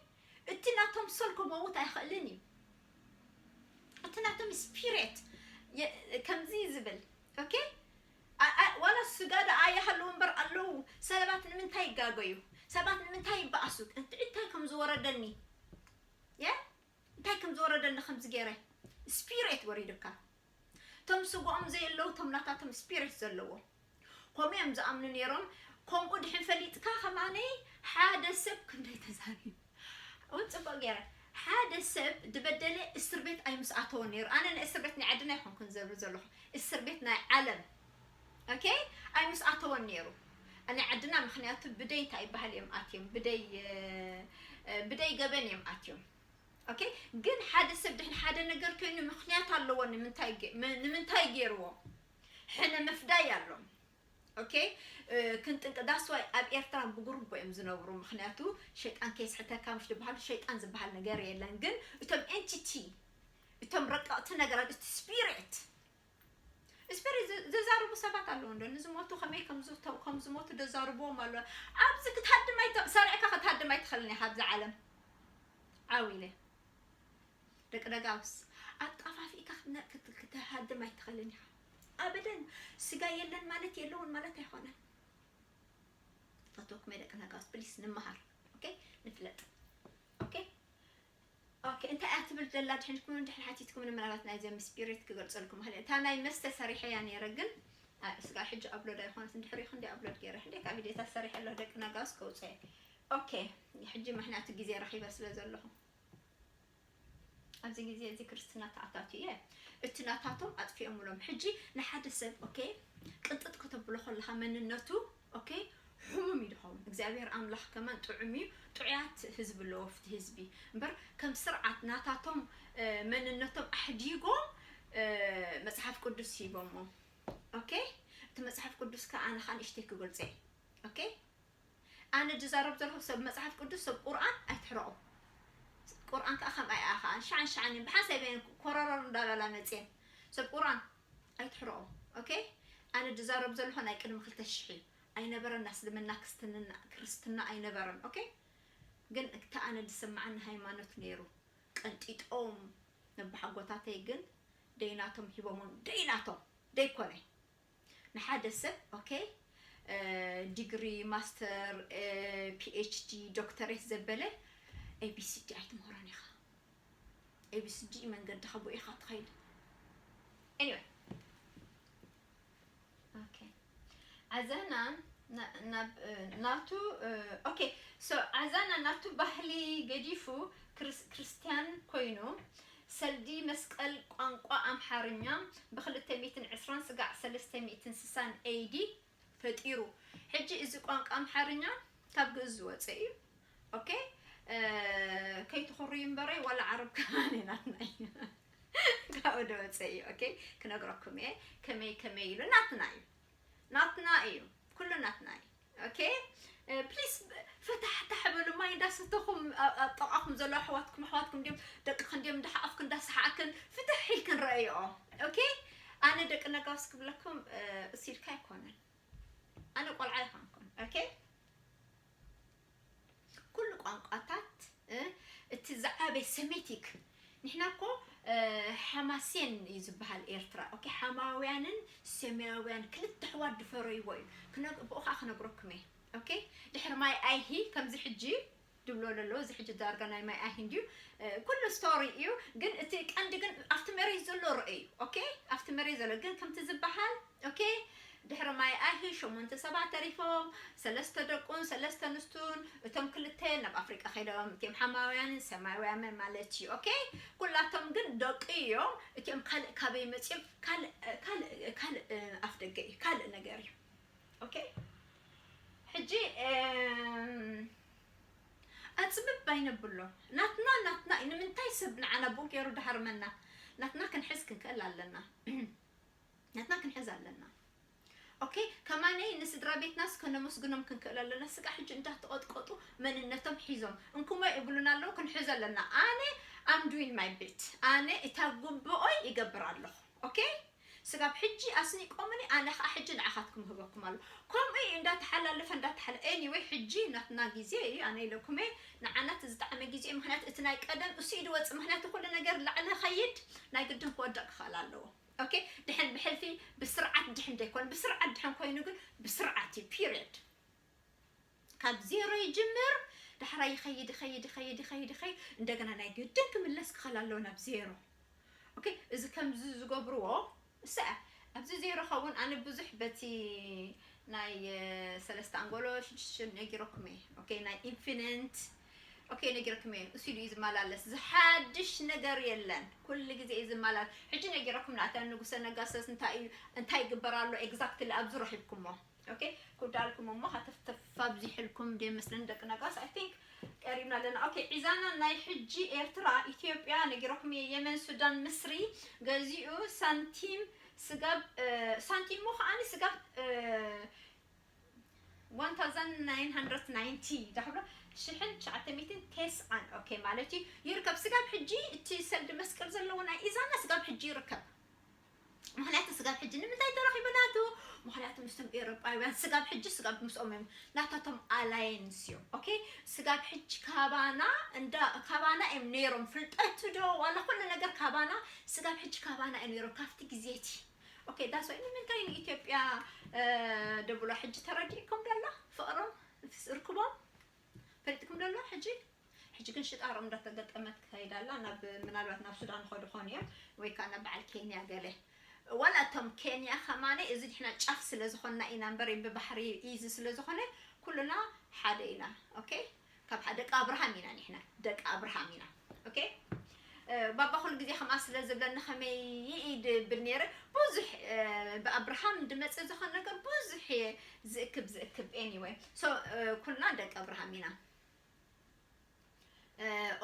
እቲ ናቶም ሶል ክመውት ኣይኽእልን እዩ እቲ ናቶም ስፒሪት ከምዚ ዝብል ኦኬ ዋላ ስጋ ደኣ ይሃለዉ እምበር ኣለዉ ሰባት ንምንታይ ይጋገዩ ሰባት ንምንታይ ይበኣሱ እንታይ ከም ዝወረደኒ እየ እንታይ ከም ዝወረደኒ ከምዚ ገይረ ስፒሬት ወሪዱካ እቶም ስግኦም ዘየለዉ እቶም ናታቶም ስፒሬት ዘለዎም ከምኡ እዮም ዝኣምኑ ነይሮም ከምኡ ድሕን ፈሊጥካ ከማነይ ሓደ ሰብ ክንደይ ተዛሪብ እውን ፅቡቅ ገይረ ሓደ ሰብ ድበደለ እስር ቤት ኣይምስኣተወን ነይሩ ኣነ ናይ እስር ቤት ናይ ዓድና ይኮንኩን ዘብሪ ዘለኹ እስር ቤት ናይ ዓለም ok ኣይምስ ኣተወን ነይሩ ናይ ዓድና ምክንያቱ ብደይ እንታይ ይበሃል እዮም ኣትዮም ብደይ ብደይ ገበን እዮም ኣትዮም ኦኬ ግን ሓደ ሰብ ድሕን ሓደ ነገር ኮይኑ ምክንያት ኣለዎ ንምንታይ ንምንታይ ገይርዎ ሕነ ምፍዳይ ኣሎም ኦኬ ክንጥንቅ ዳስዋይ ኣብ ኤርትራ ብጉርቦ እዮም ዝነብሩ ምክንያቱ ሸይጣን ከይስሕተካ ምሽ ዝበሃሉ ሸይጣን ዝበሃል ነገር የለን ግን እቶም ኤንቲቲ እቶም ረቀቕቲ ነገራት እቲ ስፒሪት እስፐሪ ዘዛርቡ ሰባት ኣለዉ እንዶ ንዝሞቱ ከመይ ከም ዝሞቱ ደዛርብዎም ኣሎ ኣብዚ ክትሃድም ኣይተ ሰሪዕካ ክትሃድም ኣይትኽእልን ኢኻ ኣብዚ ዓለም ዓው ኢለ ደቂ ደጋውስ ኣጣፋፊእካ ክትሃድም ኣይትኽእልን ኢኻ ኣበደን ስጋ የለን ማለት የለውን ማለት ኣይኮነን ፈትወኩም ደቂ ነጋውስ ፕሊስ ንመሃር ኦኬ ንፍለጥ ኦኬ ኦኬ እንታይ እያ ትብል ዘላ ድሕን ኢልኩም እንድሕር ሓቲትኩምኒ ምናልባት ናይ ዘሚ ስፒሪት ክገልጸልኩም ይኽእል እየ እታ ናይ መስተ ሰሪሐያ ነይረ ግን ኣ፣ ስጋብ ሕጂ ኣብሎድ ኣይኮነትን ድሕሪኡ ክንደይ ኣብሎድ ገይረ ሕደይ ካብ ቪድዮታት ሰሪሐ ኣለኹ ደቂ ነጋውስ ከውጽኦ እየ ኦኬ ሕጂ ምክንያቱ ግዜ ረኺበ ስለ ዘለኹ ኣብዚ ግዜ እዚ ክርስትና ተኣታቱ እየ እቲ ናታቶም ኣጥፊኦምሎም ሕጂ ንሓደ ሰብ ኦኬ ቅንጥጥ ከተብሎ ከለኻ መንነቱ ኦኬ ሑሙም እዩ ድኸውን እግዚኣብሔር ኣምላኽ ከማን ጥዑም እዩ ጥዑያት ህዝቢ ኣለዎ ፍቲ ህዝቢ እምበር ከም ስርዓት ናታቶም መንነቶም ኣሕዲጎም መጽሓፍ ቅዱስ ሂቦሞ ኦኬ እቲ መጽሓፍ ቅዱስ ከ ኣነ ከኣ ንእሽተይ ክገልጾ እየ ኦኬ ኣነ ዝዛረብ ዘለኹ ሰብ መጽሓፍ ቅዱስ ሰብ ቁርኣን ኣይትሕረቑ ቁርኣን ከኣ ከምኣ እያ ከኣ ሸዓን ሸዓን እየን ብሓንሳብ እየን ኮረረር እንዳበላ መጽየን ሰብ ቁርኣን ኣይትሕረኦም ok ኣነ ድዛረብ ዘለኩ ናይ ቅድሚ ክልተ ሽሕ እዩ ኣይነበረን ኣስልምና ክስትንና ክርስትና ኣይነበረን ok ግን እታ ኣነ ድስምዓኒ ሃይማኖት ነይሩ ቀንጢጦም ነባሓጎታተይ ግን ደይ ናቶም ሂቦሞም ደይ ናቶም ደይ ኮነ ንሓደ ሰብ ok ዲግሪ ማስተር phd ዶክተሬት ዘበለ abcd ኣይትምህሮን ኢካ ኤቢስጂ መንገድኻ ብኡ ኢኻ ትኸይድ anyway okay ዓዛና ናቱ okay so ዓዛና ናቱ ባህሊ ገዲፉ ክርስትያን ኮይኑ ሰልዲ መስቀል ቋንቋ ኣምሓርኛ ብ220 ስጋዕ 360 ኤይዲ ፈጢሩ ሕጂ እዚ ቋንቃ ኣምሓርኛ ካብ ግእዝ ዝወጸ እዩ ኦኬ ከይትኹርዩ እምበረይ ዋላ ዓረብ ከማን ናትና እዩ ካብኡ ዝወጸ እዩ ኦኬ ክነግረኩም እየ ከመይ ከመይ ኢሉ ናትና እዩ ናትና እዩ ኩሉ ናትና እዩ ኦኬ ፕሊስ ፈታሕታሕ በሉ ማይ እንዳሰተኹም ኣብ ጠቃኹም ዘሎ ኣሕዋትኩም ኣሕዋትኩም ድም ደቅኽን ድም እንዳሓኣፍክን እንዳሰሓዕክን ፍትሕ ኢልክን ረኣይኦ ኦኬ ኣነ ደቂ ነጋውስ ክብለኩም እስ ኢልካ ኣይኮነን ኣነ ቆልዓ ይኮንኩን ኦኬ ኩሉ ቋንቋታት እቲ ዝዓበይ ሰሜቲክ ንሕና እኮ ሓማሴን እዩ ዝበሃል ኤርትራ ኦኬ ሓማውያንን ሴማያውያን ክልተ ኣሕዋት ድፈረይዎ እዩ ብኡ ከዓ ክነግረኩም እየ ኦኬ ድሕሪ ማይ ኣይሂ ከምዚ ሕጂ ድብሎ ለሎ እዚ ሕጂ ዳርጋ ናይ ማይ ኣይን ድዩ ኩሉ ስቶሪ እዩ ግን እቲ ቀንዲ ግን ኣብቲ መሬት ዘሎ ርእ እዩ ኦኬ ኣብቲ መሬት ዘሎ ግን ከምቲ ዝበሃል ኦኬ ድሕሪ ማይ ኣይሂ ሸሞንተ ሰባት ተሪፎም ሰለስተ ደቁን ሰለስተ ንስቱን እቶም ክልተ ናብ ኣፍሪቃ ከይዶም እቲም ሓማውያንን ሰማያውያንን ማለት እዩ ኦኬ ኩላቶም ግን ደቂ እዮም እቲኦም ካልእ ካበይ መፅኦም ካልእ ካልእ ካልእ ኣፍ ደገ እዩ ካልእ ነገር እዩ ኦኬ ሕጂ ኣጽብብ ኣይነብሎ ናትና ናትና እዩ ንምንታይ ሰብ ንዓና ቡእ ገይሩ ድሃርመና ናትና ክንሕዝ ክንክእል ኣለና ናትና ክንሕዝ ኣለና ኦኬ ከማነይ ንስድራ ቤትናስ ከነመስግኖም ክንክእል ኣለና ስጋ ሕጂ እንዳተቐጥቀጡ መንነቶም ሒዞም እንኩሞ ይብሉና ኣለዉ ክንሕዞ ኣለና ኣነ ኣም ዱዊን ማይ ቤት ኣነ እታ ጉብኦይ ይገብር ኣለኹ ኦኬ ስጋብ ሕጂ ኣስኒቆምኒ ኣነ ከኣ ሕጂ ንዓካትኩም እህበኩም ኣሎ ከምኡ ኢዩ እንዳ ተሓላለፈ እንዳ ተሓለ ኤኒወይ ሕጂ ናትና ግዜ ኢዩ ኣነ ኢለኩም ኢየ ንዓና እቲ ዝጠዓመ ግዜ ኢዩ ምክንያቱ እቲ ናይ ቀደም እሱ ኢዩ ድወጽእ ምክንያቱ ኩሉ ነገር ላዕሊ ክከይድ ናይ ግድን ክወድቅ ክክእል ኣለዎ ኦኬ ድሕን ብሕልፊ ብስርዓት ድሕን ደይኮነ ብስርዓት ድሕን ኮይኑ ግን ብስርዓት ኢዩ ፒርድ ካብ ዜሮ ይጅምር ዳሕራይ ይኸይድ ይኸይድ ይኸይድ ይኸይድ ይኸይድ እንደገና ናይ ግድን ክምለስ ክኸል ኣለዎ ናብ ዜሮ ኦኬ እዚ ከምዚ ዝገብርዎ ሰ ኣብዚ ዜሮ ኸውን ኣነ ብዙሕ በቲ ናይ ሰለስተ ኣንጎሎ ሽዱሽተ ነጊረኩም እየ ኦኬ ናይ ኢንፊኒንት ኦኬ ነጊረኩም እየ እሱ ኢሉ እዩ ዝመላለስ ዝሓድሽ ነገር የለን ኩሉ ግዜ እዩ ዝመላለስ ሕጂ ነጊረኩም ንኣታ ንጉሰ ነጋሰስ እንታይ እዩ እንታይ ይግበር ኣሎ ኤግዛክትሊ ኣብዚ ረኺብኩሞ ኦኬ ኩዳ ኣልኩም እሞ ሃተፍተፍ ኣብዚሕልኩም ድየ መስለኒ ደቂ ነጋስ ኣይ ቲንክ ቀሪብና ኣለና ኦኬ ዒዛና ናይ ሕጂ ኤርትራ ኢትዮጵያ ነጊረኩም እየ የመን ሱዳን ምስሪ ገዚኡ ሳንቲም ስጋብ ሳንቲም እሞ ከዓኒ ስጋብ 1990 ዳሕብሎ ሽሕን ትሽዓተ ሚእትን ቴስዓን ኦኬ ማለት እዩ ይርከብ ስጋብ ሕጂ እቲ ሰልዲ መስቀል ዘለዎ ናይ ኢዛና ስጋብ ሕጂ ይርከብ ምክንያቱ ስጋብ ሕጂ ንምንታይ ተረኪቡ ናቱ ምክንያቱ ምስቶም ኤሮጳውያን ስጋብ ሕጂ ስጋብ ምስኦም እዮም ናታቶም ኣላየንስ እዩ ኦኬ ስጋብ ሕጂ ካባና እንዳ ካባና እዮም ነይሮም ፍልጠቱ ዶ ዋላ ኩሉ ነገር ካባና ስጋብ ሕጂ ካባና እዮም ነይሮም ካብቲ ግዜቲ ኦኬ ዳስ ወይ ንምንታይ ንኢትዮጵያ ደብሎ ሕጂ ተረዲእኩም ደላ ፍቅሮም ርክቦም ፈሊጥኩም ዶ ኣሎ ሕጂ ሕጂ ግን ሽጣሮ እንዳ ተገጠመት ትከይድ ኣላ ናብ ምናልባት ናብ ሱዳን ይከዱ ይኮኑ እዮም ወይ ከኣ ናብ በዓል ኬንያ ገለ ዋላ እቶም ኬንያ ከማን እዚ ንሕና ጫፍ ስለ ዝኮና ኢና እምበር ብባሕሪ ኢዚ ስለ ዝኮነ ኩሉና ሓደ ኢና ኦኬ ካብ ደቂ ኣብርሃም ኢና ንሕና ደቂ ኣብርሃም ኢና ኦኬ ባባ ኩሉ ግዜ ከምኣ ስለ ዝብለኒ ከመይ ይኢ ድብል ነይረ ብዙሕ ብኣብርሃም ድመጽእ ዝኮን ነገር ብዙሕ እየ ዝእክብ ዝእክብ anyway so ኩልና ደቂ ኣብርሃም ኢና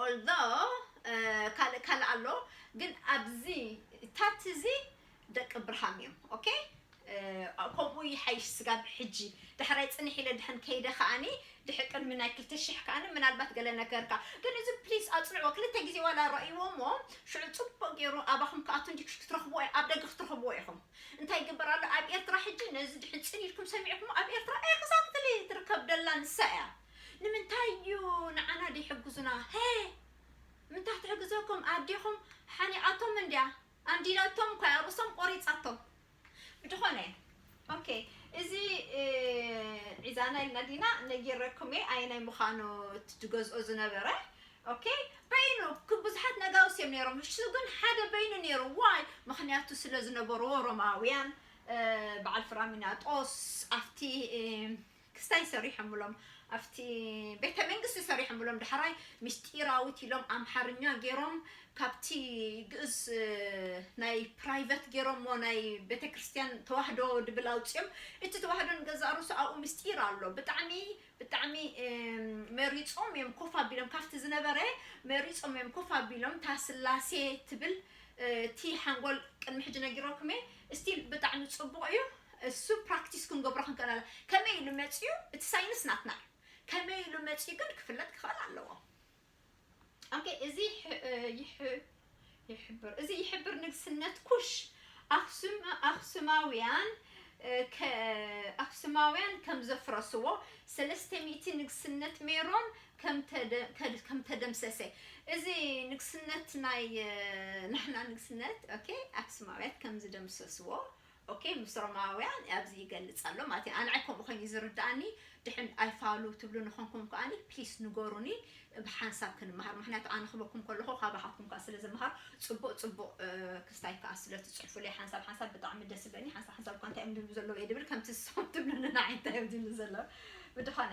although ካልእ ካልእ ኣሎ ግን ኣብዚ ታትዚ ደቂ ብርሃም እዮም ኦኬ ከምኡ ይሓይሽ ስጋብ ሕጂ ዳሕራይ ጽንሕ ኢለ ድሕን ከይደ ከኣኒ ድሕሪ ቅድሚ ናይ ክልተ ሽሕ ከኣኒ ምናልባት ገለ ነገርካ ግን እዚ ፕሊስ ኣጽንዕዎ ክልተ ግዜ ዋላ ረእይዎ እሞ ሽዑ ጽቡቅ ገይሩ ኣባኹም ክኣቱ እንዲ ክትረኽብዎ ኣብ ደገ ክትረኽብዎ ኢኹም እንታይ ይግበር ኣሎ ኣብ ኤርትራ ሕጂ ነዚ ድሕን ጽን ኢልኩም ሰሚዕኩሞ ኣብ ኤርትራ ኤግዛክትሊ ትርከብ ደላ ንሳ እያ ንምንታይ እዩ ንዓና ደይሕግዙና ሄ ምንታይ ትሕግዘኩም ኣዴኹም ሓኒቓቶም እንድያ ኣንዲደቶም እኳ እያ ርእሶም ቆሪጻቶም ብድኾነ ኦኬ እዚ ዒዛና ኢልና ዲና ነጊረኩም እየ ኣየናይ ምዃኑ እቲ ዝገዝኦ ዝነበረ ኦኬ በይኑ ክ- ብዙሓት ነጋውስ እዮም ነይሮም እሱ ግን ሓደ በይኑ ነይሩ ዋይ ምክንያቱ ስለ ዝነበርዎ ሮማውያን እ፣ በዓል ፍራሚናጦስ ኣብቲ እ፣ ክስታይ ሰሪሖምሎም ኣብቲ ቤተ መንግስቲ ሰሪሖምሎም ዳሕራይ ምስጢራዊት ኢሎም ኣምሓርኛ ጌሮም ካብቲ ግእዝ ናይ ፕራይቨት ጌሮሞ ናይ ቤተ ክርስትያን ተዋህዶ ድብል ኣውጺኦም እቲ ተዋህዶ ንገዛእ ርእሱ ኣብኡ ምስጢር ኣሎ ብጣዕሚ ብጣዕሚ መሪጾም እዮም ኮፍ ኣቢሎም ካብቲ ዝነበረ መሪጾም እዮም ኮፍ ኣቢሎም እታ ስላሴ ትብል እቲ ሓንጎል ቅድሚ ሕጂ ነጊረኩም እየ Still ብጣዕሚ ጽቡቕ እዩ እሱ ፕራክቲስ ክንገብሮ ክንክእል ኣለ ከመይ ኢሉ መጽዩ እቲ ሳይንስ ናትና እዩ ከመይ ኢሉ መጽዩ ግን ክፍለጥ ክኽእል ኣለዎ ኦኬ እዚ ይሕብር እዚ ይሕብር ንግስነት ኩሽ ኣክሱም ኣክሱማውያን ኣክሱማውያን ከም ዘፍረስዎ ሰለስተ ሚእቲ ንግስነት ሜሮን ከም ተደምሰሰ እዚ ንግስነት ናይ ንሕና ንግስነት ኦኬ ኣክሱማውያት ከም ዝደምሰስዎ ኦኬ ምስ ሮማውያን ኣብዚ ይገልጽ ኣሎ ማለት እዩ ኣንዐ ከምኡ ኮይኑ ዝርዳእኒ ድሕን ኣይፋሉ ትብሉ ንኾንኩም ከኣኒ ፕሊስ ንገሩኒ ብሓንሳብ ክንመሃር ምክንያቱ ኣነ ክበኩም ከለኹ ካባኻትኩም ከዓ ስለ ዝመሃር ፅቡቅ ፅቡቅ ክስታይ ከዓ ስለ ትፅሕፉለይ ሓንሳብ ሓንሳብ ብጣዕሚ ደስ ይብለኒ ሓንሳብ ሓንሳብ እኳ እንታይ እዮም ዝብሉ ዘለዉ እየ ድብል ከምቲ ዝስኹም ትብሉኒ ንዓይ እንታይ እዮም ዝብሉ ዘለዉ ብድኾነ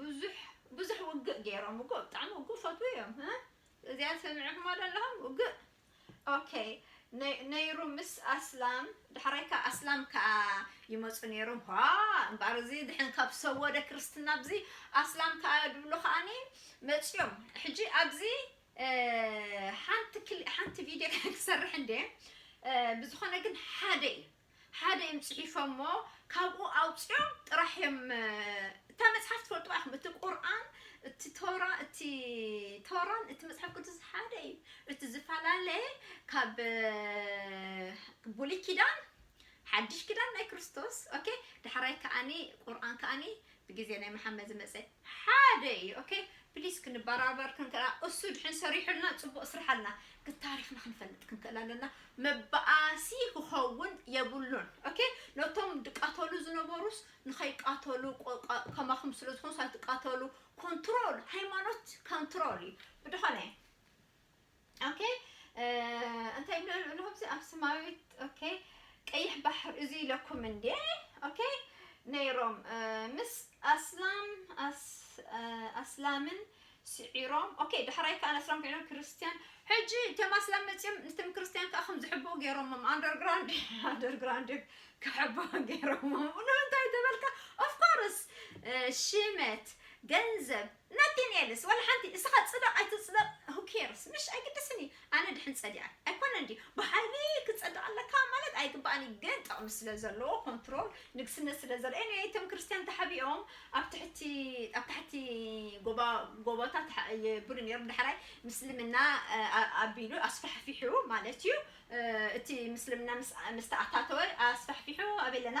ብዙሕ ብዙሕ ውግእ ጌሮም እኮ ብጣዕሚ እኮ ፈትዉ እዮም ህ እዚኣ ሰሚዕኩማ ዶ ኣለኹም ውግእ ኦኬ ነይሩ ምስ ኣስላም ዳሕራይ ከኣ ኣስላም ከኣ ይመጹ ነይሮም ኋ እምበኣር እዚ ድሕን ካብ ሰወደ ክርስትና ኣብዚ ኣስላም ከኣ ድብሉ ከኣኒ መጽዮም ሕጂ ኣብዚ ሓንቲ ሓንቲ ቪድዮ ክሰርሕ እንዴ ብዝኾነ ግን ሓደ እዩ ሓደ እዮም ጽሒፎሞ ካብኡ ኣውጺኦም ጥራሕ እዮም እታ መጽሓፍ ትፈልጥዋ ኢኹም እቲ ቁርኣን እቲ ቶራ እቲ ቶራን እቲ መጽሓፍ ቅዱስ ሓደ እዩ እቲ ዝፈላለየ ካብ ብሉይ ኪዳን ሓድሽ ኪዳን ናይ ክርስቶስ ኦኬ ዳሕራይ ከኣኒ ቁርኣን ከኣኒ ብግዜ ናይ መሓመድ ዝመጸ ሓደ ኢዩ ኦኬ ፕሊስ ክንባራበር ክንክእል ኣለና እሱ ድሕን ሰሪሑልና ጽቡቅ ስራሕ ኣለና ግን ታሪክና ክንፈልጥ ክንክእል ኣለና መባኣሲ ክኸውን የብሉን ኦኬ ነቶም ድቃተሉ ዝነበሩስ ንኸይቃተሉ ከማኹም ስለ ዝኾኑስ ኣይትቃተሉ ኮንትሮል ሃይማኖት ኮንትሮል ኢዩ ብድኾነ ኦኬ እንታይ ይብሎ ኣለኹ ኣብዚ ኣብ ስማዊት ኦኬ ቀይሕ ባሕር እዚ ኢለኩም እንዴ ኦኬ ነይሮም ምስ ኣስላም ኣስላምን ስዒሮም ኦኬ ዳሕራይ ከዓ ኣስላም ኮይኖም ክርስትያን ሕጂ እቶም ኣስላም መፅኦም ንትም ክርስትያን ከዓ ከም ዝሕበው ገይሮሞም ኣንደርግራውንድ ኣንደርግራውንድ ክሕበው ገይሮሞም ብሎ እንታይ ተበልካ ኦፍኮርስ ሽመት ገንዘብ ነቴንኤልስ ዋላ ሓንቲ እስኻ ጽደቕ ኣይትጽደቕ who cares ምሽ ኣይግድስን እዩ ኣነ ድሕን ጸዲቐ ኣይኮነን ድዩ ብሓይሊ ክጸድቕ ኣለካ ማለት ኣይግባእን እዩ ግን ጥቕሚ ስለ ዘለዎ ኮንትሮል ንግስነት ስለ ዘሎ anyway እቶም ክርስትያን ተሓቢኦም ኣብ ትሕቲ ኣብ ታሕቲ ጎባ ጎቦታት ይብሉ ነይሮም ዳሕራይ ምስልምና ኣቢሉ ኣስፋሕፊሑ ማለት እዩ እቲ ምስልምና ምስ ተኣታተወ ኣስፋሕፊሑ ኣበይ ኣለና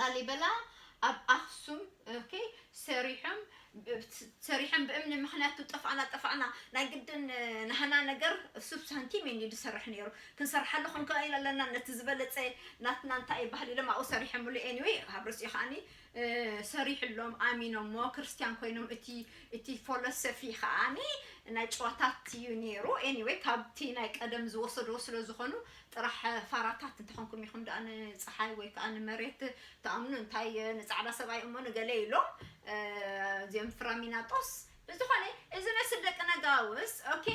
ላሊበላ ኣብ ኣክሱም ኦኬ ሰሪሖም ሰሪሖም ብእምኒ ምክንያቱ ጠፋእና ጠፋእና ናይ ግድን ናህና ነገር ሱብ ሳንቲም እዩ ዝሰርሕ ነይሩ ክንሰርሓሉ ክንክእል ኣለና ነቲ ዝበለፀ ናትና እንታይ ይባሃል ኢሎም ኣብኡ ሰሪሖምሉ ኤኒዌይ ኣብ ርእሲኡ ከዓኒ ሰሪሕሎም ኣሚኖሞ ክርስቲያን ኮይኖም እቲ እቲ ፎሎሶፊ ከዓኒ ናይ ጨዋታት እዩ ነይሩ ኤኒዌይ ካብቲ ናይ ቀደም ዝወሰድዎ ስለ ዝኾኑ ጥራሕ ፋራታት እንተኾንኩም ኢኹም ድኣ ንጸሓይ ወይ ከኣ ንመሬት ትኣምኑ እንታይ ንጻዕዳ ሰብኣይ እሞ ንገለ ኢሎም እዚኦም ፍራሚናጦስ ብዝኾነ እዚ መስል ደቂ ነጋውስ ኦኬ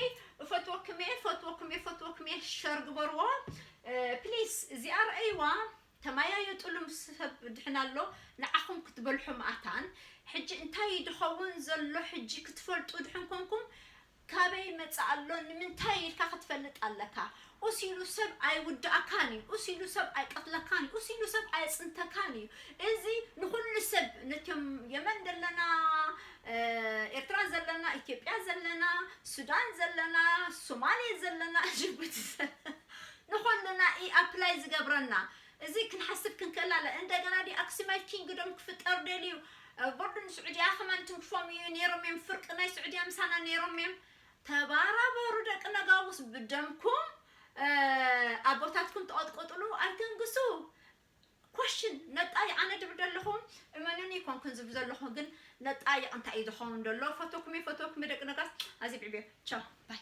እፈትወኩም እየ እፈትወኩም እየ እፈትወኩም እየ ሸር ግበርዎ ፕሊስ እዚኣ ረኣይዋ ተመያየጥሉ ምስ ሰብ ድሕና ኣሎ ንዓኹም ክትበልሑ መኣታን ሕጂ እንታይ ድኸውን ዘሎ ሕጂ ክትፈልጡ ድሕን ኮንኩም ካበይ ይመጽእ ኣሎ ንምንታይ ኢልካ ክትፈልጥ ኣለካ ኡስ ኢሉ ሰብ ኣይውዳኣካን ኢዩ ኡስ ኢሉ ሰብ ኣይቀትለካን ኢዩ ኡስ ኢሉ ሰብ ኣየጽንተካን ኢዩ እዚ ንኩሉ ሰብ ነቶም የመን ደለና ኤርትራ ዘለና ኢትዮጵያ ዘለና ሱዳን ዘለና ሶማሌ ዘለና ጅቡቲ ዘለና ንኩልና ኢዩ ኣፕላይ ዝገብረና እዚ ክንሓስብ ክንከላለ እንደገና ዲ ኣክሱማይት ኪንግዶም ክፍጠር ደልዩ ቦርድን ስዑድያ ከማን ትንክፎም እዩ ነይሮም እዮም ፍርቂ ናይ ስዑድያ ምሳና ነይሮም እዮም ተባራበሩ ደቂ ነጋውስ ብደምኩም ኣቦታትኩም ተቐጥቆጥሉ ኣይተንግሱ ኮሽን ነጣይ ኣነ ድብል ደለኹ እመኑኒ ኮንኩን ዝብ ዘለኹ ግን ነጣይቕ እንታይ እዩ ዝኸውን ደሎ ፈቶኩም እየ ፈቶኩም ደቂ ነጋስ ኣዚ ብዕብዮ ቻው ባይ